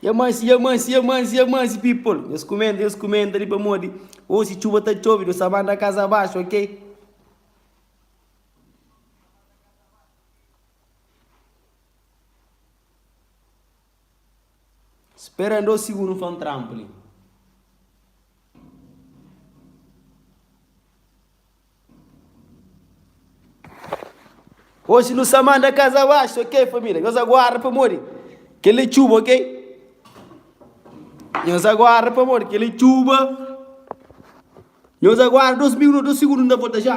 Ya mansi, ya mansi, ya mansi, ya mansi, people. Nhos kumenta, nhos kumenta ali pamodi osi txuba ta txobi, nhos ta banda kaza abaxu, ok? Spera-m dos sigundu pa N tranpa li. Oxi nu sa manda kaza abaxu ok família nhos aguarda pamodi kel é txuba ok nhos aguarda pamodi kel é txuba nhos aguarda dos minu dos sigundu nu ta volta já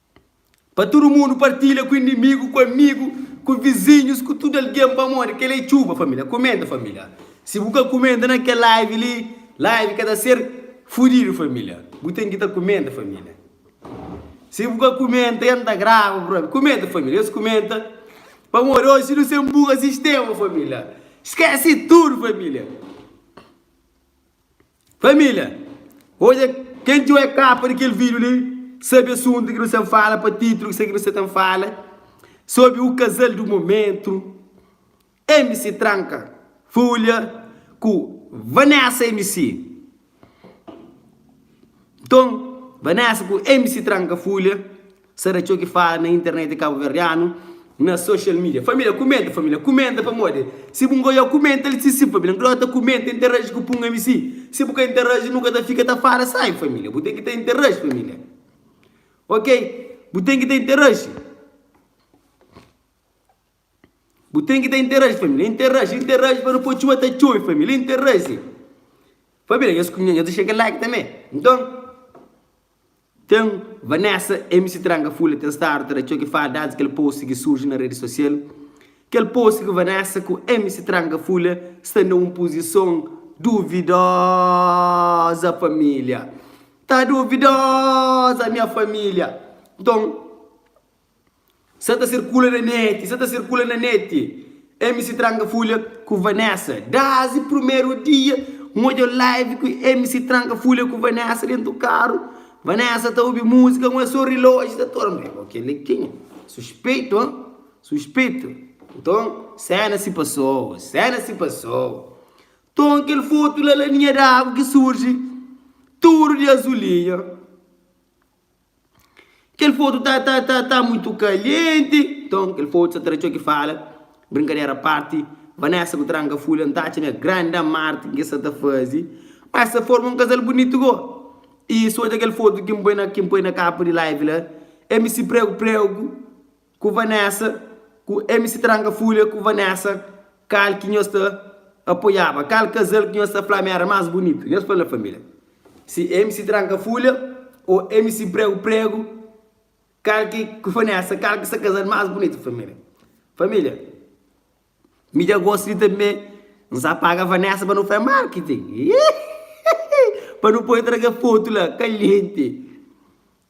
Pa tudu mundu partilha ku inimigu ku amigu ku vizinhus ku tudu algen pamodi kel-li é txuba família kumenta família si bu ka kumenta na kel live li live ka ta ser fudidu família bu ten ki ta kumenta família si bu ka kumenta ya n ta grava brother kumenta família nhos kumenta pamodi oji nu sen buga sistema família skesi tudu família. Família, odja kel dju é kapa di kel vídiu li. Sabe asuntu ki nu sta fala pa títulu ki nu sta ta fala sobri u kazal di momentu. MC Tranka Folha ku Vanessa MC. Nton, Vanessa ku MC Tranka Folha Sa da txeu ki fala na internet kabuverdianu na social media família kumenta família kumenta pamodi si bu ngoiau kumenta li si si família nka dota kumenta interaji ku punga mi si si bu ka interaji nu ka ta fika ta fala sai família bu ten ki ta interaji família ok bu ten ki ta interaji. Bu ten ki ta interaji família Interaji, interaji pa nu poi txuba ta txobi família Interaji Família nhos kumia nhos ta xega like tanbe Nton ten Vanessa MC Tranka Fula ten stadu ta da txoki fala Desdi kel post ki surji na redi sosial Kel post ku Vanessa ku MC Tranka Fula sta na un puzison duvidoza família Ta duvidoza nha família Nton. Sa ta sirkula na neti, sa ta sirkula na neti MC Tranka Fulha ku Vanessa Dazi Primeru dia N odja live ku MC Tranka Fulha ku Vanessa Dentu karu Vanessa ta obi muzika N so riloji ta tora Meh bo keli kenha? Suspeitu ha? Suspeitu Nton sena si pasoba Sena si pasoba Nton kel fotu la la Linha d'agu ki surji Tudu di azulinha. Kel fotu ta ta ta ta muitu kalienti. Nton, kel fotu sa ta da txeu ki fala. Brinkadera a parti, Vanessa ku Tranka Fulha N ta atxa nha grandi amar ten ki sa ta fazi pa sa forma un kazal bunitu go. I si odja kel fotu ki N poi na ki N poi na kapa di live la, MC Pregu Pregu. Ku Vanessa ku MC Tranka Fulha ku Vanessa kal ki nhos ta apoiaba? Kal kazal ki nhos ta fla ma era mas bunitu? Nhos fla na familia. Si MC Tranka Fulha o MC Pregu Pregu kal ki ku Vanessa kal ki sa kazal mas bunitu familia? Familia. Mi dja gosta di tanbe. N sa paga Vanessa pa nu fai marketing. Pa nu poi traga foto la kaliente.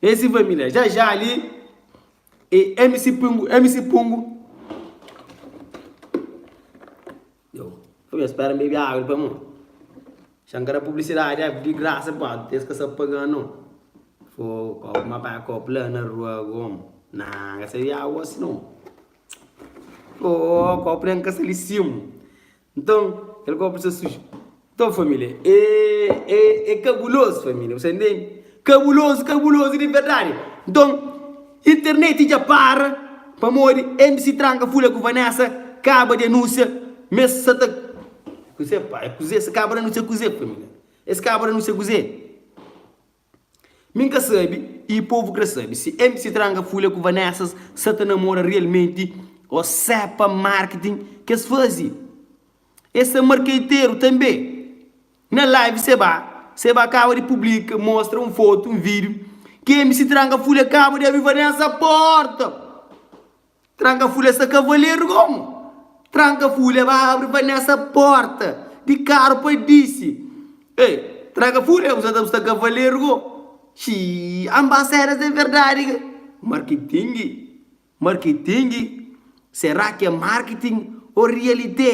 É si família. Já já ali e MC Pungu, MC Pungu. Eu, eu espero beber água para mim. Xancara publicidade é de graça, pô. Tens que estar pagando. Foi, uma para a copla na rua, como? Não, essa é a água, senão. Ooh kópu la N ka sta li simu Nton, kel kópu sta suju Nton família, e kabulozu família Bu sta intende? Kabulozu, kabulozu di verdadi Nton, interneti dja para pamodi N di si tranka fula ku Vanessa kaba di anúnsia ma es sa ta Kuzê pá? Kuzê? Es kaba di anúnsia kuzê família? Es kaba di anúnsia kuzê? Mi nka sabe i povo kre sabe si mc tranga fulha ku vanessas sa ta namora realmente o se pa marketing kes fazi e sa markeiteiro tanbe na live se ba se ba kaba di publica mostra um foto um video ki mc tranga fulha kaba di abi vanessa porta Tranka fulha sa kavaleru gomo. Tranka fulha ba abri pa nessa porta di karu pa disi ei tranka fulha usa ta usa kavaleru go xii am ba seras de verdadi ke marketingi marketingi será que é marketing ou réalité.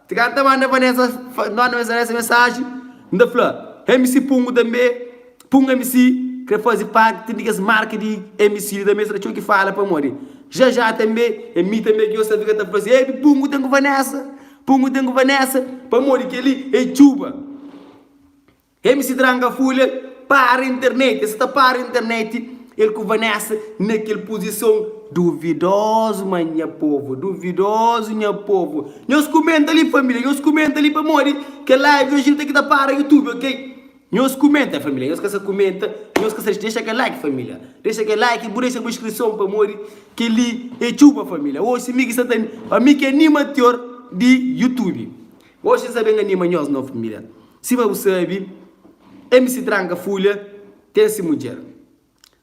Ti k'N ta manda Vanessa N manda Vanessa mensaji N ta fla MC pungu tanbe Pungu MC kre fazi parti Ten di kes marka di MC li tanbe Sra txeu ki fala pamodi Já já tanbe É mi tanbe ki nhos ta fika ta fla si Epi pungu ten ku Vanessa Pungu ten ku Vanessa Pamodi kel-li é txuba. MC Dranga Fulha para internet, el sa ta para internet, el ku Vanessa na kel puzison duvidozu, ma nha povu, duvidozu nha povu. Nhos kumenta li família, nhos kumenta li pamodi kel live oji nu ten ki ta para youtube ok. Nhos kumenta família, nhos ka sa kumenta, nhos ka sa dexa kel like família, dexa kel like bu dexa bu inskrison pamodi kel li é txuba família, oxi mi ki sa ta, pa mi ki anima tior di youtube. Oxi sa ben anima nhos novu familiar Sima bu sabi MC tranka fulha ten si mudjer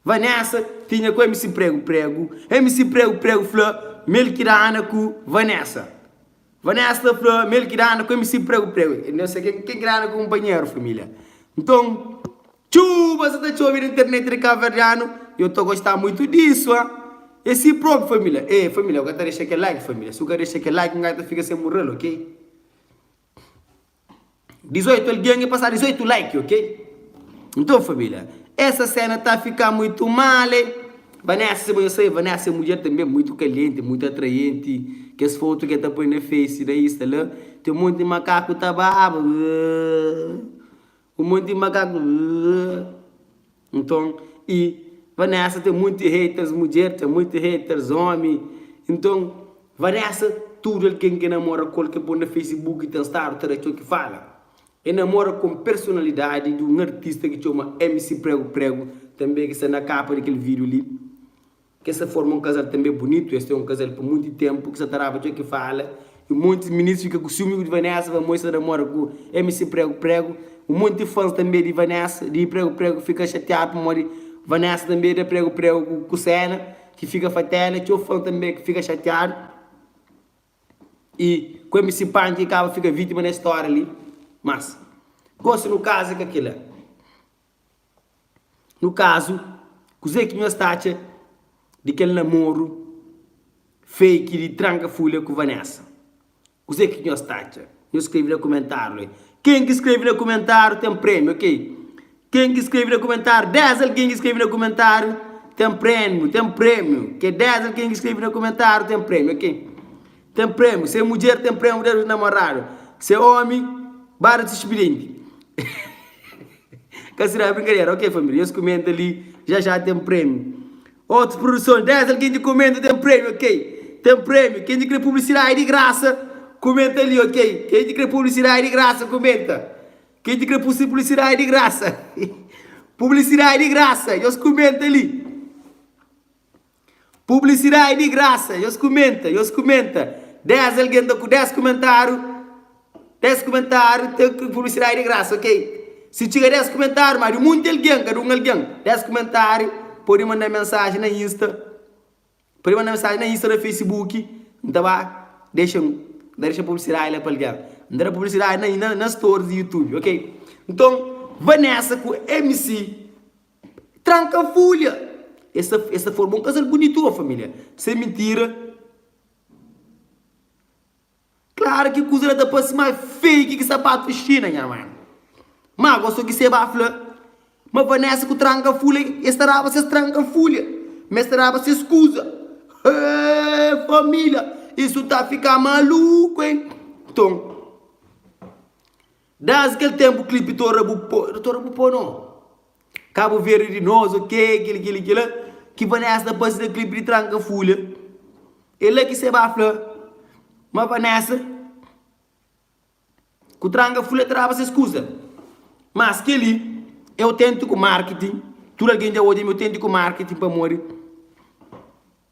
Vanessa tinha ku MC pregu pregu MC pregu pregu fla Melkidana ku Vanessa Vanessa ta fla Melkidana ku MC pregu pregu Ken ki dana kunpanheru familia Nton Txuba sa ta txobi na internet di kabuverdianu yo ta gosta muitu disu a e si probi familia e familia bu ka ta dexa kel like familia si bu ka dexa kel like ngai ta fika sen murrel ok 18 algen ki pasa 18 like ok nton familia esa sena ta fika muitu mal e Vanessa si bo nhos sai Vanessa e mudjer tanbe muitu kalienti muitu atraienti kes fotu ke ta poi na face na insta la ten monti makaku ta baba. Un monti di makaku uh nton i vanessa ten monti haters mudjer ten monti haters omi nton vanessa tudu algen ke namora kol ke pon na facebook ten stadu ta da txo ki fala e namora kon personalidadi di un artista ki txoma mc pregu pregu tanbe ki sta na kapa di kel video li Kes sa forma un kazal tanbe bunitu, es ten un kazal pa munti tenpu ki sa ta raba txeu ki fala i un monti ministri fika ku siumi di Vanessa pamodi sa ta namora ku MC Prego Prego, un monti fans tanbe di Vanessa di Prego Prego fika xatiadu pamodi Vanessa tanbe da Prego Prego ku kusela ki fika fatela, txeu fans tanbe ki fika xatiadu i ku MC Panchi ki kaba fika vitima nes stória li, mas gosi nu kaza ka kila. Nu kazu, kuzê ki nhos ta atxa di kel namoru fake di tranka fulha ku Vanessa? Kuzê ki nhos ta atxa? Nhos skrebe na kumentáriu li. Ken ki skrebe na kumentáriu ten prémiu, ok? Ken ki skrebe na kumentáriu, 10 algen ki skrebe na kumentáriu ten prémiu, ten prémiu, ok? 10 algen ki skrebe na kumentáriu ten prémiu, ok? ten prémiu se mudjer ten prémiu dés di namoradu se ómi bada ti xpilenti ka sirá brinkadera ok família nhos kumenta li já já ten prémiu otus produson dés algen ki kumenta ten prémiu ok ten prémiu ken ki kre publisidadi di grasa kumenta li ok ken ki kre publisidadi di grasa kumenta ken ki kre publisidadi di grasa publisidadi di grasa nhos kumenta li. Publisidadi di grasa nhos kumenta nhos kumenta 10 algen ta ku 10 kumentariu 10 kumentariu ta ku publisidadi di grasa ok si txiga 10 kumentariu má di munti algen kada un algen 10 kumentariu podi manda mensaji na insta podi manda mensaji na insta na facebook n ta ba dexa n ta dexa publisidadi la pa algen n ta da publisidadi na na na storis di youtube ok nton vanessa ku mc. Tranka folha. Es ta es ta forma un kazal bunitu o familia. Sem mintira. Klar ki kuza la ta parsi ma fei ki ki sapatu xina nha man. Ma gosto ki seba fla ma Vanessa ku tranka folha es ta raba ses tranka folha ma es ta raba ses kuza. Hee familia isu ta fika maluku hein. Ton. Desdi kel tenpu klipi tora bu po tora bu po no Cabo Verde di nos ok kila kila kila ki Vanessa ta pase na klipi di tranka fulha e la ki se ba fla ma Vanessa ku tranka fulha ta daba ses kusa mas keli e autentiku marketing tudu algen dja odja mi autentiku marketing pamodi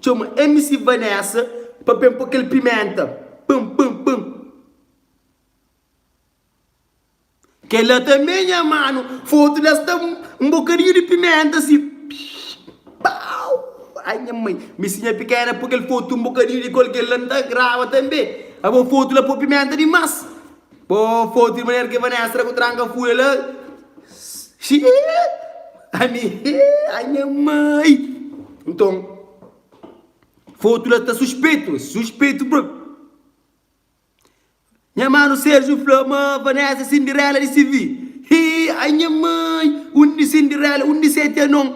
Txoma MC Vanessa pa ben po kel pimenta pam pam pam. Kel la tanbe nha mano foto la sta um bocadinho de pimenta assim pshh pau ai nha mãe mi si nha pequena po kel foto um bocadinho de qualquer la nta grava tanbe abo foto la po pimenta demais. Bo fotu di manera ki Vanessa ta ku tranka fúria la. Xii! Ai mi, ai nha mai! Nton, fotu la ta suspetu, suspetu bro. Nha manu Sérgio fla ma Vanessa é Cinderela di CV. Xii! Ai nha mai! Undi Cinderela, undi seti anon?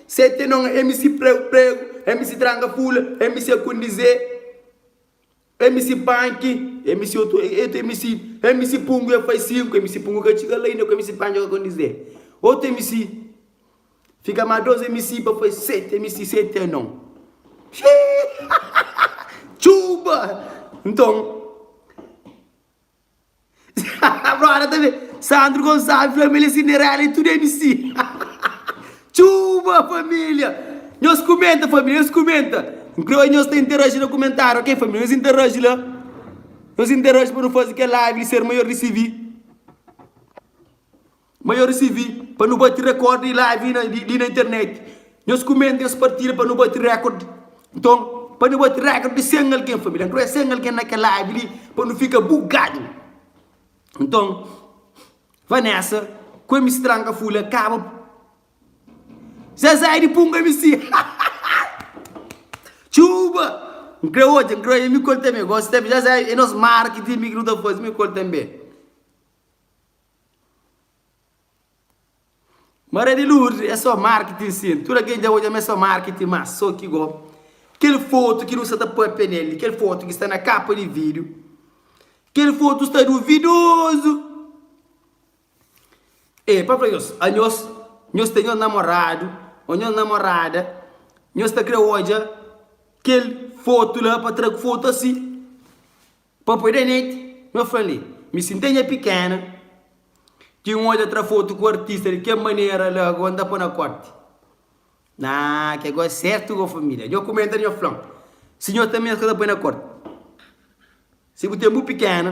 Seti anon é mi si pregu, pregu, é mi si tranka fúria, é mi si kondizê. Mc panki mc eu tô eto mc mc pungu é faz sinku mc pungu ka txiga la inda ku mc panki ka kondi zé otu mc fika ma dos mc pa faz seti mc seti é non xiii txuba nton Brother ta ben Sandro Gonçalves fla ma el é Cinderella e tudo é mc Tchuuba família Nhos kumenta família nhos kumenta N kre oi nhos ta interaji na kumentáriu ok família nhos interaji la Nhos interaji pa nu fazi kel live di ser maior di CV. Ma yo risibi pa nu bati rekord di live li na internet. Nhos kumenta, nhos partida pa nu bati rekord. Nton, pa nu bati rekord di 100 algen, família, nkrê 100 algen na kel live li pa nu fika bugadu. Nton, Vanessa ku MC Tranka Fúlia kaba pa. Zezé di punga MC! Txuba! Nkrê odja, nkrê odja Mikol tanbe. Gosi tanbe. Zezé, é nos mara ki ti mi ki nu ta faze Mikol tanbe. Maria di Lourdes é só marketing sim. Tudo alguém dja odja ma é só marketing mas só ki go kel foto ki nu sa ta papia nel li, kel foto ki sta na capa di video, kel foto sta duvidoso. E pa fla nhos, a nhos, nhos ten nhos namorado o nhos namorada, nhos ta kre odja kel foto la pa tra ku foto assim. Papoi da neti, na fla li, mi sintei nha pikena, ki N odja tra fotu ku artista di kel manera la goa N ta poi na korti. Naa, ke goa sertu goa familia. Nho kumenta nho flan, si nho ta mesmu ka ta poi na korti. Si bu ten bu pikena.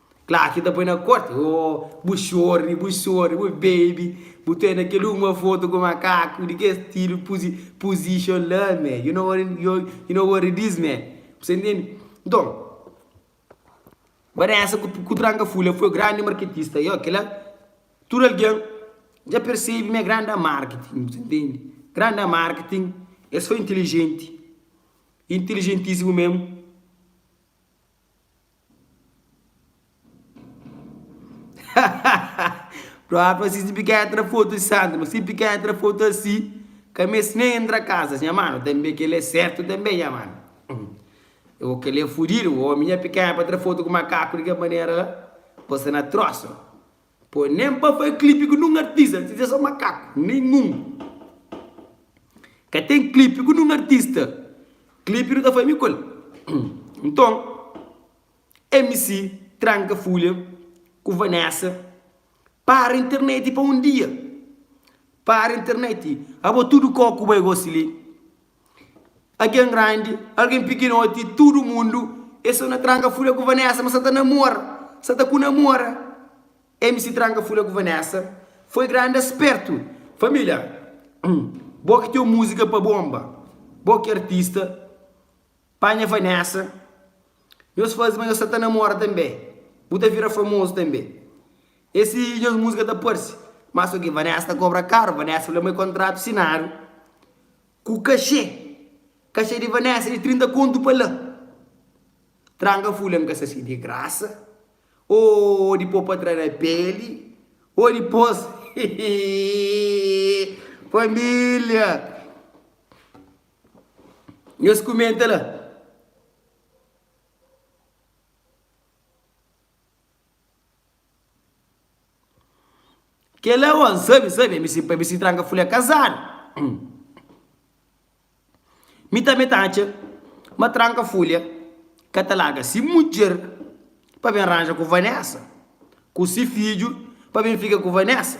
Kla ki ta poi na korti oh Bu xorri, bu xorri, bu bebe Bu ta na kel uma foto ku makaku Di kes stilu puzi, position la me You know what it, yo, you know what it is me Bu sa intendi? Nton, Vanessa ku, ku tranka fula foi grandi marketista Yo, kila, tudu algen dja persebi m'é gran na marketing Bu sa intendi? Gran na marketing É so inteligenti, inteligentisimu mesmu. Própri pa si pika é tra foto di santu ma si pika é tra foto asi ka meste nen entra kasa nha mano tanbe kele é sertu tanbe nha mano o kele é fudidu omi nha pika é pa tra foto ku makaku di kel manera la bo sta na trosu Poi nem pa fai clipe ku num artista artista é só makaku nenhum ka tem clipe ku num artista clipe nu ta fai mi ku el nton mc tranka fulha ku vanessa para internet pa um dia para internet abo tudo koku bai gosi li. Algen grandi, algen pikinoti, tudu mundu e so na tranka fula ku Vanessa ma sa ta namora, sa ta ku namora. MC tranka fula ku Vanessa foi grandi aspertu. Familia, bo ki teu musika pa bomba, bo ki artista. Panha Vanessa Nhos faze ma nhos sa ta namora tanbe Bu ta vira famozu tanbe E si nhos musika ta parse Mas ok Vanessa ta kobra karu Vanessa fla ma e kontratu sinadu Ku kaxê Kaxê di Vanessa di 30 kontu pa la Tranka fula N ka sa si di grasa O di po pa tra na peli O dipos Família. Nhos kumenta la. Kela o N sabe, sabe, mi si pa mi si tranka fuli a kazadu. Mi tanbe ta atxa ma tranka fuli ka ta laga si mudjer pa ben ranja ku Vanessa, ku si fidju pa ben fika ku Vanessa.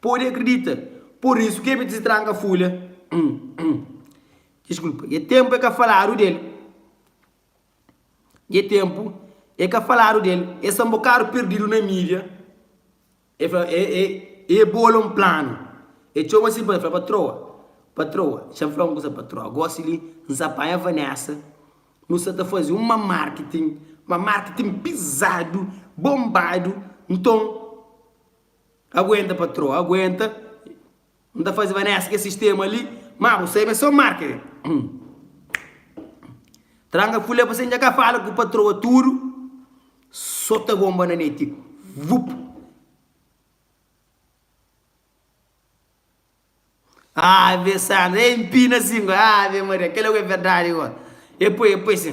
Pode akredita, pur isu ki Ebit distranka Fulha. Diskulpa, dja tenpu e ka faladu del. Dja tenpu e ka faladu del. E sta un bokadu pirdidu na mídia. E fla, e, e, e bola un planu. E txoma si bai, fla, Patroa, patroa, nxa N fla un kusa patroa, gósi li N sa panha Vanessa, nu sa ta faze un ma marketing, ma marketing pizadu, bonbadu, nton, Aguenta patroa aguenta N ta faze vanessa kes sistema li ma bu sabe so marca Tranga fule pa se N dja ka fala ku patroa tudu so ta bomba na net tipo vup Ave santo ei N pina si Ave Maria kel la ku é verdadi gora e poi e poi si.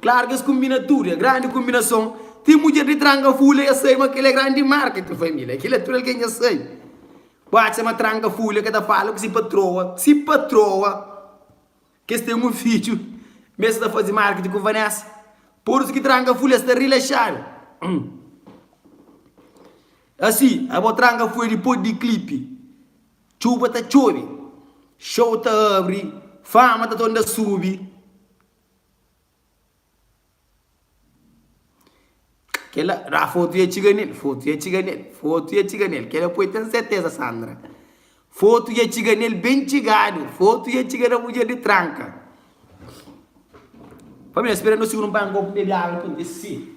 Klaru ki es konbina tudu, é grandi konbinason. Ti mudjer di Tranka Fúlia dja sabe ma kel é grandi marketing família. Kel-la tudu algen dja sabe. Bu atxa ma Tranka Fúlia ka ta fala ku se patroa, se patroa, ki es ten un fidju, ma es ta faze marketing ku Vanessa? Pur isu ki Tranka Fúlia sta rilaxadu. Asi, abo Tranka Fúlia dipôs di klipi, txuba ta txobe, xou ta abri, fama ta ta un da subi. Kela ra fotu ya txiga nel, fotu ya txiga nel, fotu ya txiga nel. Kela poi ten serteza Sandra. Fotu ya txiga nel ben txigadu, fotu ya txiga na mudjer di tranka. Família, spera nos sigundu pa n'gobu bebi agu pa n'dis si.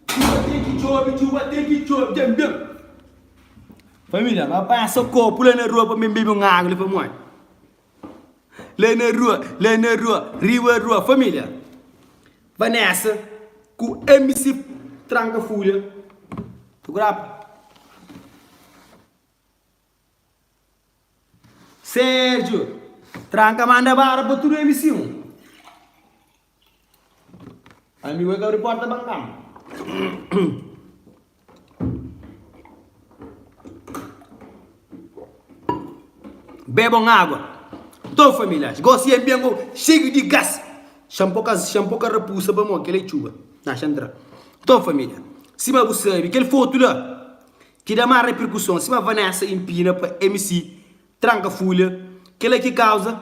Djuba ten ki djobe, djuba ten ki djobe, djam djam. Família, nau panha so kopu la na rua pa mi bebe un agu li pamodi la na rua, la na rua, riba rua, família. Vanessa ku MC Tranka Fúria. Tukurapa. Sergio, tranka manda bara pa tudu elis sim. Amigu el ka abri porta ba nkama. Beba un agua. Nton familias, gosi é ben gou xeiu di gas. Xan po kas, xan po ka rapusa pamo, kel é txuba. Na xan tra. Nton familia, sima bu sabi, kel fotu la Ki da más reperkuson, sima Vanessa inpina pa MC tranka Fulha, kel-la ki kauza.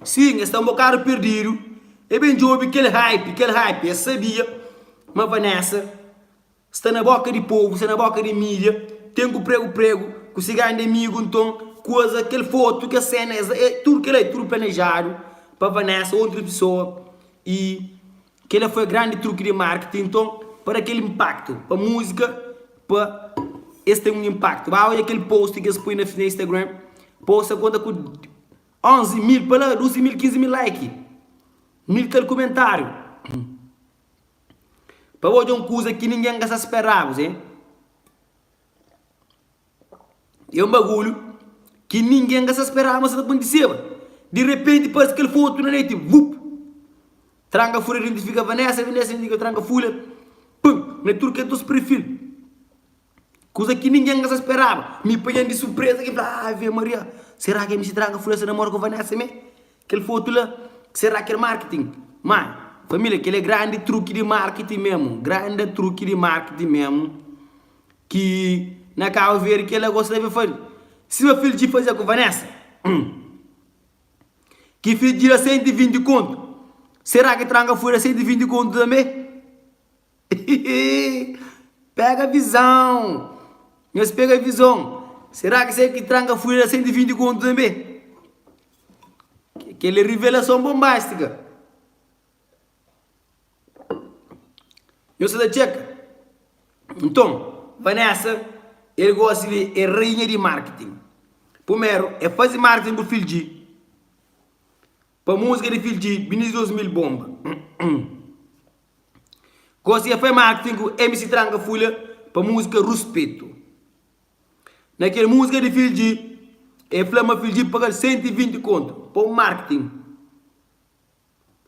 Sin, es sta un bokadu perdidu, e ben djobe kel hype, kel hype. Es sabia ma Vanessa sta na boka di povu, sta na boka di mídia, ten ku pregu pregu ku se grandi amigu. Nton, kuaza, kel fotu, kel sena, es, tudu kel-la é tudu planejadu pa Vanessa ô otus pesoa. I Kel-la foi grandi truki di marketing. Nton, pa da kel inpaktu pa múzika, pa es ten un inpaktu. Ba odja kel post ki es poi na Instagram. Post sa konta ku 11.000, pa la 12.000, 15.000 like. Mil kal kumentáriu. Pa ba odja un kuza ki ningen ka sta speraba-s. É un bagulhu ki ningen ka sa speraba ma sa ta kontiseba. Di repenti, parse kel fotu na noti, vup! Tranka fula, identifika Vanessa, Vanessa identifika tranka fula, pum! Na tudu kes dôs perfil. Kuza ki ningen ka sa speraba. Mi panha-m di surpreza ki, fla, Ave Maria! Sera ki mc Tranka Fula sa namora ku Vanessa me? Kel fotu la, sera ki é marketing? Má, família, kel é grandi truki di marketing mésmu, grandi truki di marketing mésmu. Ki na cabo verde ki el a gosta be fari sima filho de fazia ku vanessa hum ki filho de da 120 conto será ki tranca foi da 120 conto também hihihi pega visão nhos pega visão será ki se ki tranca foi da 120 conto também kel é revelação bombástica. Nhos ta da txeka? Nton, Vanessa el gosi li é rainha di marketing. Purmeru el fazi marketing bu filh G pa musika di filh G Biniz 2000 bomba. Gosi el fai marketing ku MC Tranka Fulha pa musika Ruspetu. Na kel musika di filh G el fla ma filh G paga'l 120 kontu pa un marketing.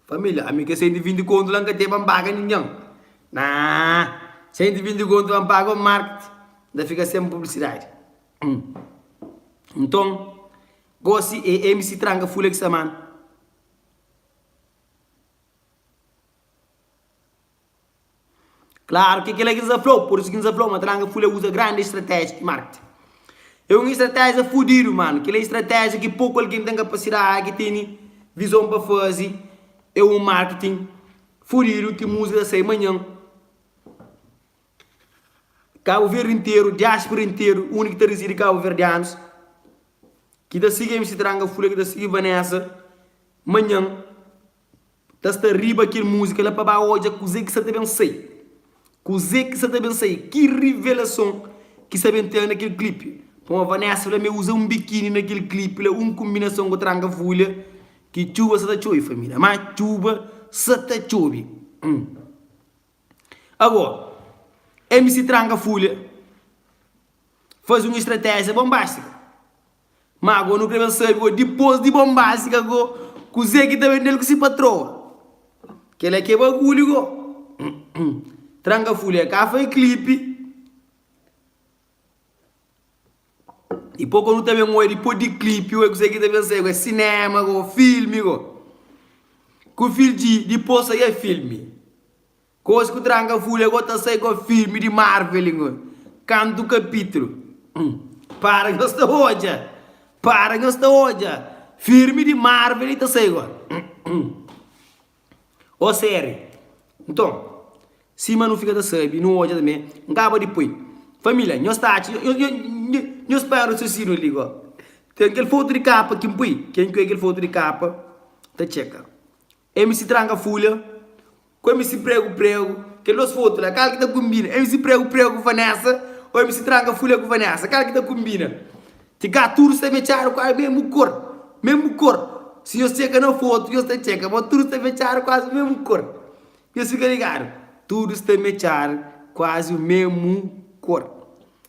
Família, ami ka sai di vindi kontu la, N ka teba N paga ningen Naa, sai di vindi kontu la, N paga o markti N ta fika sen publisidadi Nton, gosi e mc Tranka fula ki samana. Klaru ki é kel-la ki N sta ta fla-u. Pur isu ki N sta ta fla-u ma ta langa fule uza grandi istratéjia di marketing. É un istratéjia fudidu, mano. Kel-la é istratéjia ki poku algen ten kapasidadi, ki tene vizon pa faze. É un marketing fudidu ki múzika ta sai manhan. Kabu Verdi interu, diáspora interu, undi ki ta rizidi kabuverdianus, ki ta sigi MC Tranga Fule, ki ta sigi Vanessa, manhan. Ta sta riba kel múzika la pa ba odja kuzê ki sa ta ben sai. Kuzê ki sa ta ben sai? Ki rivelason ki sa ben ten na kel klipi? Puma Vanessa fla ma el uza un bikini na kel klipi la, un konbinason ku tranga vulha ki txuba sa ta txobi, família. Má txuba sa ta txobi. Agora, MC Tranga Fulha faze un estratéjia bonbástika. Má agô nu krê ben sabe gô, dipôs di bon básiku agô, kuzê ki ta ben di-l ku se patroa? Kel-la ki é bagulhu gô! Tranka Fulha ka foi klipi. I pô kô nu ta ben odja dipôs di klipi gô, kuzê ki ta ben sai gô? É sinéma gô, filmi gô. Ku fil di dipôs sai é filmi. Kos ku tranka fule go ta sai go filme di marveli ngo kantu kapitulu hum para nhos ta odja para nhos ta odja filme di marveli ta sai go hum o seri nton sima nu fika ta sabi nu odja tanbe nkaba di poi familia nhos ta atxa nhos pai rasiosiniu li go ten kel fotu di kapa ki npoi ken ku e kel fotu di kapa ta txeka. MC Tranka Fulha ku MC Pregu Pregu Kel dos fotu la kal ki ta kunbina MC Pregu Pregu ku Vanessa Ô MC Tranka Fulha ku Vanessa kal ki ta kunbina Ti ka tudu sta fetxadu kuazi mesmu kor Mesmu kor Si nhos txeka na fotu nhos ta txeka ma tudu sta fetxadu kuazi mesmu kor Nhos fika ligadu Tudu sta metxadu kuazi mesmu kor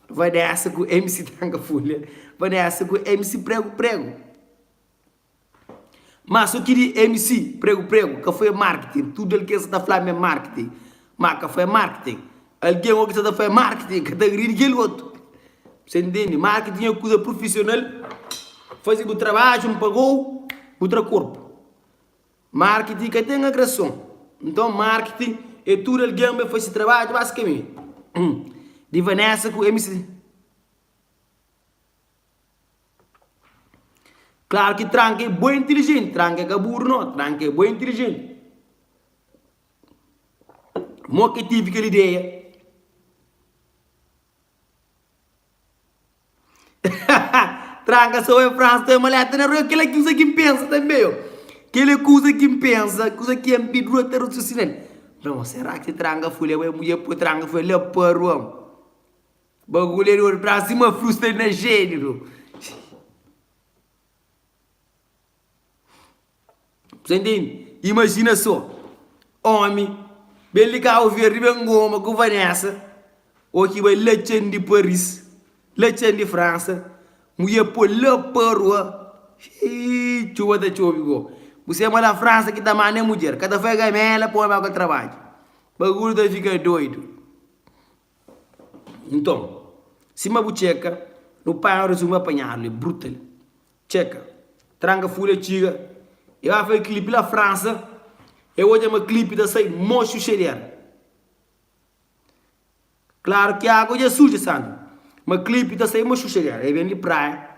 Vanessa ku MC Tranka Fulha Vanessa ku MC Pregu Pregu. Ma so ki di MC pregu pregu ka foi marketing tudo el ken sa ta fla ma é marketing ma ka foi marketing alguém o ki sa ta fla marketing ka ta gri di kel otu se intendi marketing é kuza profissional fazi bu trabadju un pagou bu tra korpu marketing ka ten agression nton marketing é tudo alguém bai fasi trabadju basikamente di Vanessa ku MC. Klaru ki tranka é boi intilijenti. Tranka ka buru no, tranka é boi intilijenti. Mo ki tive kel ideia? tranka so é frasa to é maleta na rua. Kel-la é kusa ki N pensa tanbe, ô. Kel-la é kusa ki N pensa, kusa ki N pi rua ta rasusina-l. Nton, sera ki tranka foi la, bo é mudjer pô tranka foi la pa rua? Bagulho é di ouro Brasil ma frusta é na género Sa intende? Imajina so Omi bel di Cabo Verde ben goma ku Vanessa Ô ki bai la txen di Paris La txen di França Mudjer po la pa rua Xiiiii txuba ta txobi go Bu se ma la França ki ta manda é mudjer Ka ta fai gamela pa omi ba ku el trabadja Bagulho ta fika doido. Nton, sima bu txeka, nu panha un rezumu apanhadu li, bruta li. Txeka, tranka fúria txiga, e bai faze klipi la Fransa, e odja ma klipi ta sai moxu xei di éra. Klaru ki água dja suja, Sandra, ma klipi ta sai moxu xei di éra. E ben di praia,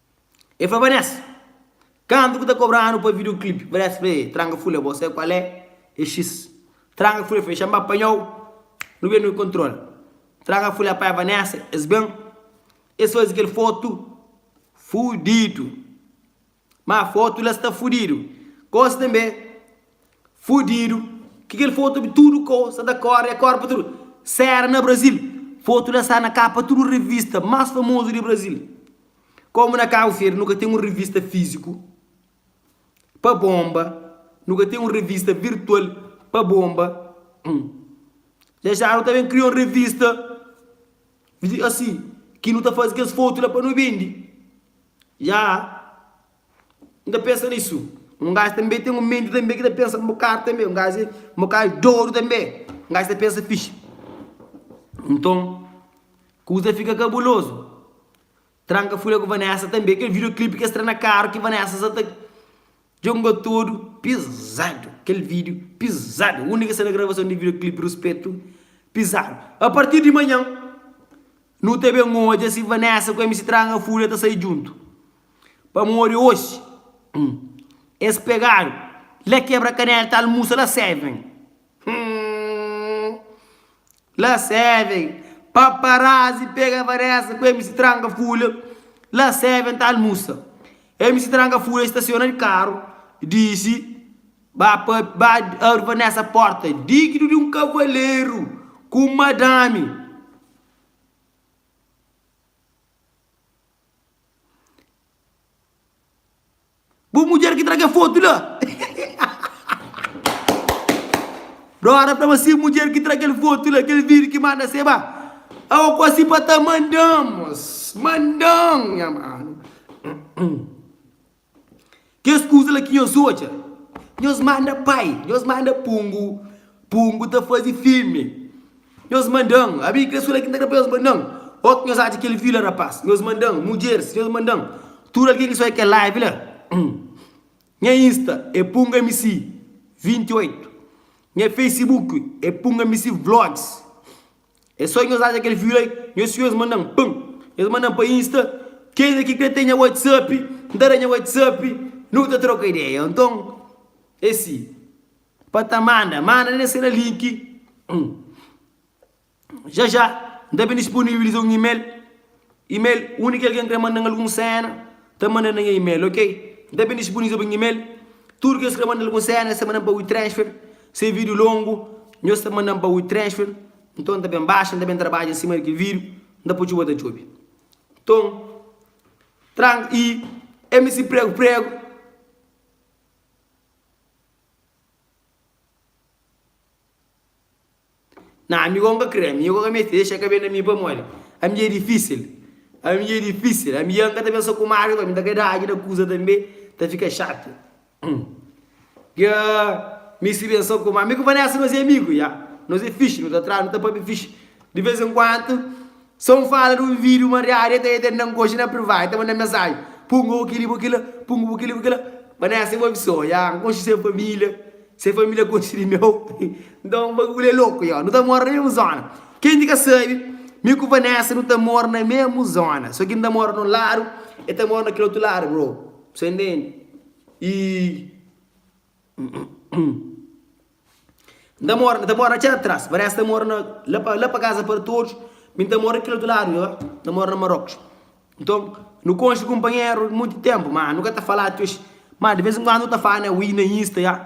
E fla Vanessa, Kantu ku ta kobranu pa videoclip? Vanessa fla e, Tranga fula e bo sai kual e? E xis. Tranga fula e fla e, Xanba panhau, nu ben nu kontrola. Tranga fula apanha Vanessa, es ben, es fazi kel fotu fudidu. Ma fotu la sta fudidu. Gosi tanbe. Fudidu ki kel fotu di tudu koza da kore e korpa tudu sera na Brasil. Fotu la sta na kapa tudu revista mas famozu di Brasil. Komu na Kabu Feri nu ka ten un revista fiziku pa bonba, nu ka ten un revista virtual pa bonba. Ja ja nu ta ben kria un revista asi ki nu ta fazi kes fotu la pa nu bendi. Ja. N ta pensa nisu. Un gaji tanbe ten un menti tanbe ki ta pensa un bokadu tanbe. Un gaji, un bokadu dodu tanbe. Un gaji ta pensa fixi. Nton, kuza fika kabulozu. Tranka fule ku Vanessa tanbe. Kel videoclip ki es tra na karu ki Vanessa sa ta djonga tudu pizadu. Kel video pizadu. Undi ki es sta na gravason di videoclip Ruspetu pizadu. A partir di manhan, nu ta ben odja si Vanessa ku MC Tranka Fule ta sai djuntu. Pamodi oxi es pegadu la kebra kanela ta almusa la seven humm la seven paparazzi pega vanessa ku mc tranga fula la seven ta almusa mc tranga fula stasiona di karu disi ba pa ba abri vanessa porta digidu di un kavaleru ku un madami. Bu mudjer ki tra kel fotu la Dora fla ma si mudjer ki tra kel fotu la kel video ki manda se ba Awa kosi pa ta mandan mos mandan nha manu Kes kuza la ki nhos odja, nhos manda pai, nhos manda pungu, pungu ta faze filme, nhos manda-m, abi kre sula ki nta kre pa nhos manda-m, o ki nhos atxa kel vila rapaz, nhos manda-m, mudjeris, nhos manda-m, tudu algen ki soi kel live la, nha insta é pungmc 28, nha facebook é pungmc vlogs. É só nhos atxa kel viu-la nhos fio es manda-m pam es manda-m pa insta kes ki krê ten nha whatsapp n ta da nha whatsapp nu ta troka ideia nton é si pa ta manda manda na sera link já já n ta ben disponibiliza un email Email, Undi ki algen krê manda-m algun séna, ta manda na nha email, ok? N ta ben dispuniza pa nha email tudu kes ki krê manda algun séna, es ta manda-m pa WeTransfer. Si é vídiu longu, nhos ta manda-m pa WeTransfer. Nton, N ta ben baxa, N ta ben trabadja nsima di kel vídiu, N ta poi txeu, bo ta djobe. Nton, Trang I, MC Pregu Pregu. Nah ami gó N ka kre, ami gó ka meste dexa ka ben na mi pamodi ami dja é difisil, ami dja é difisil, ami dja N ka ta ben so ku Mário ami ta ka da ajuda kuza tanbe ta fika xátiu, dja mi si ben so ku Mário, mi ku Vanessa nos é amigu ya, nos é fixi, nu ta trai, nu ta pâpia fixi di vez en kuantu. Sa un fala di un video mariadu e ta e tendan ku oxi na privá e ta manda mensaji pungu bu kili bu kila pungu bu kili bu kila Vanessa e bo bi so ya n konxi se familia se familia konxi di meu nton baguli e loku ya nu ta mora na mesmu zona ken ki ka sabi mi ku Vanessa nu ta mora na mesmu zona so ki n ta mora na un ladu e ta mora na kel otu ladu bro bu sa intendi i. N ta mora, ta mora na txera tras, parese ta mora na la pa la pa casa para todos, mi ta mora kel otu lado ya, ta mora na Marrocos. Nton, nu konxe kunpanheru monti tempo, ma nu ka ta falá ti oxi. Ma de vez en kuando nu ta fala ui na insta ya,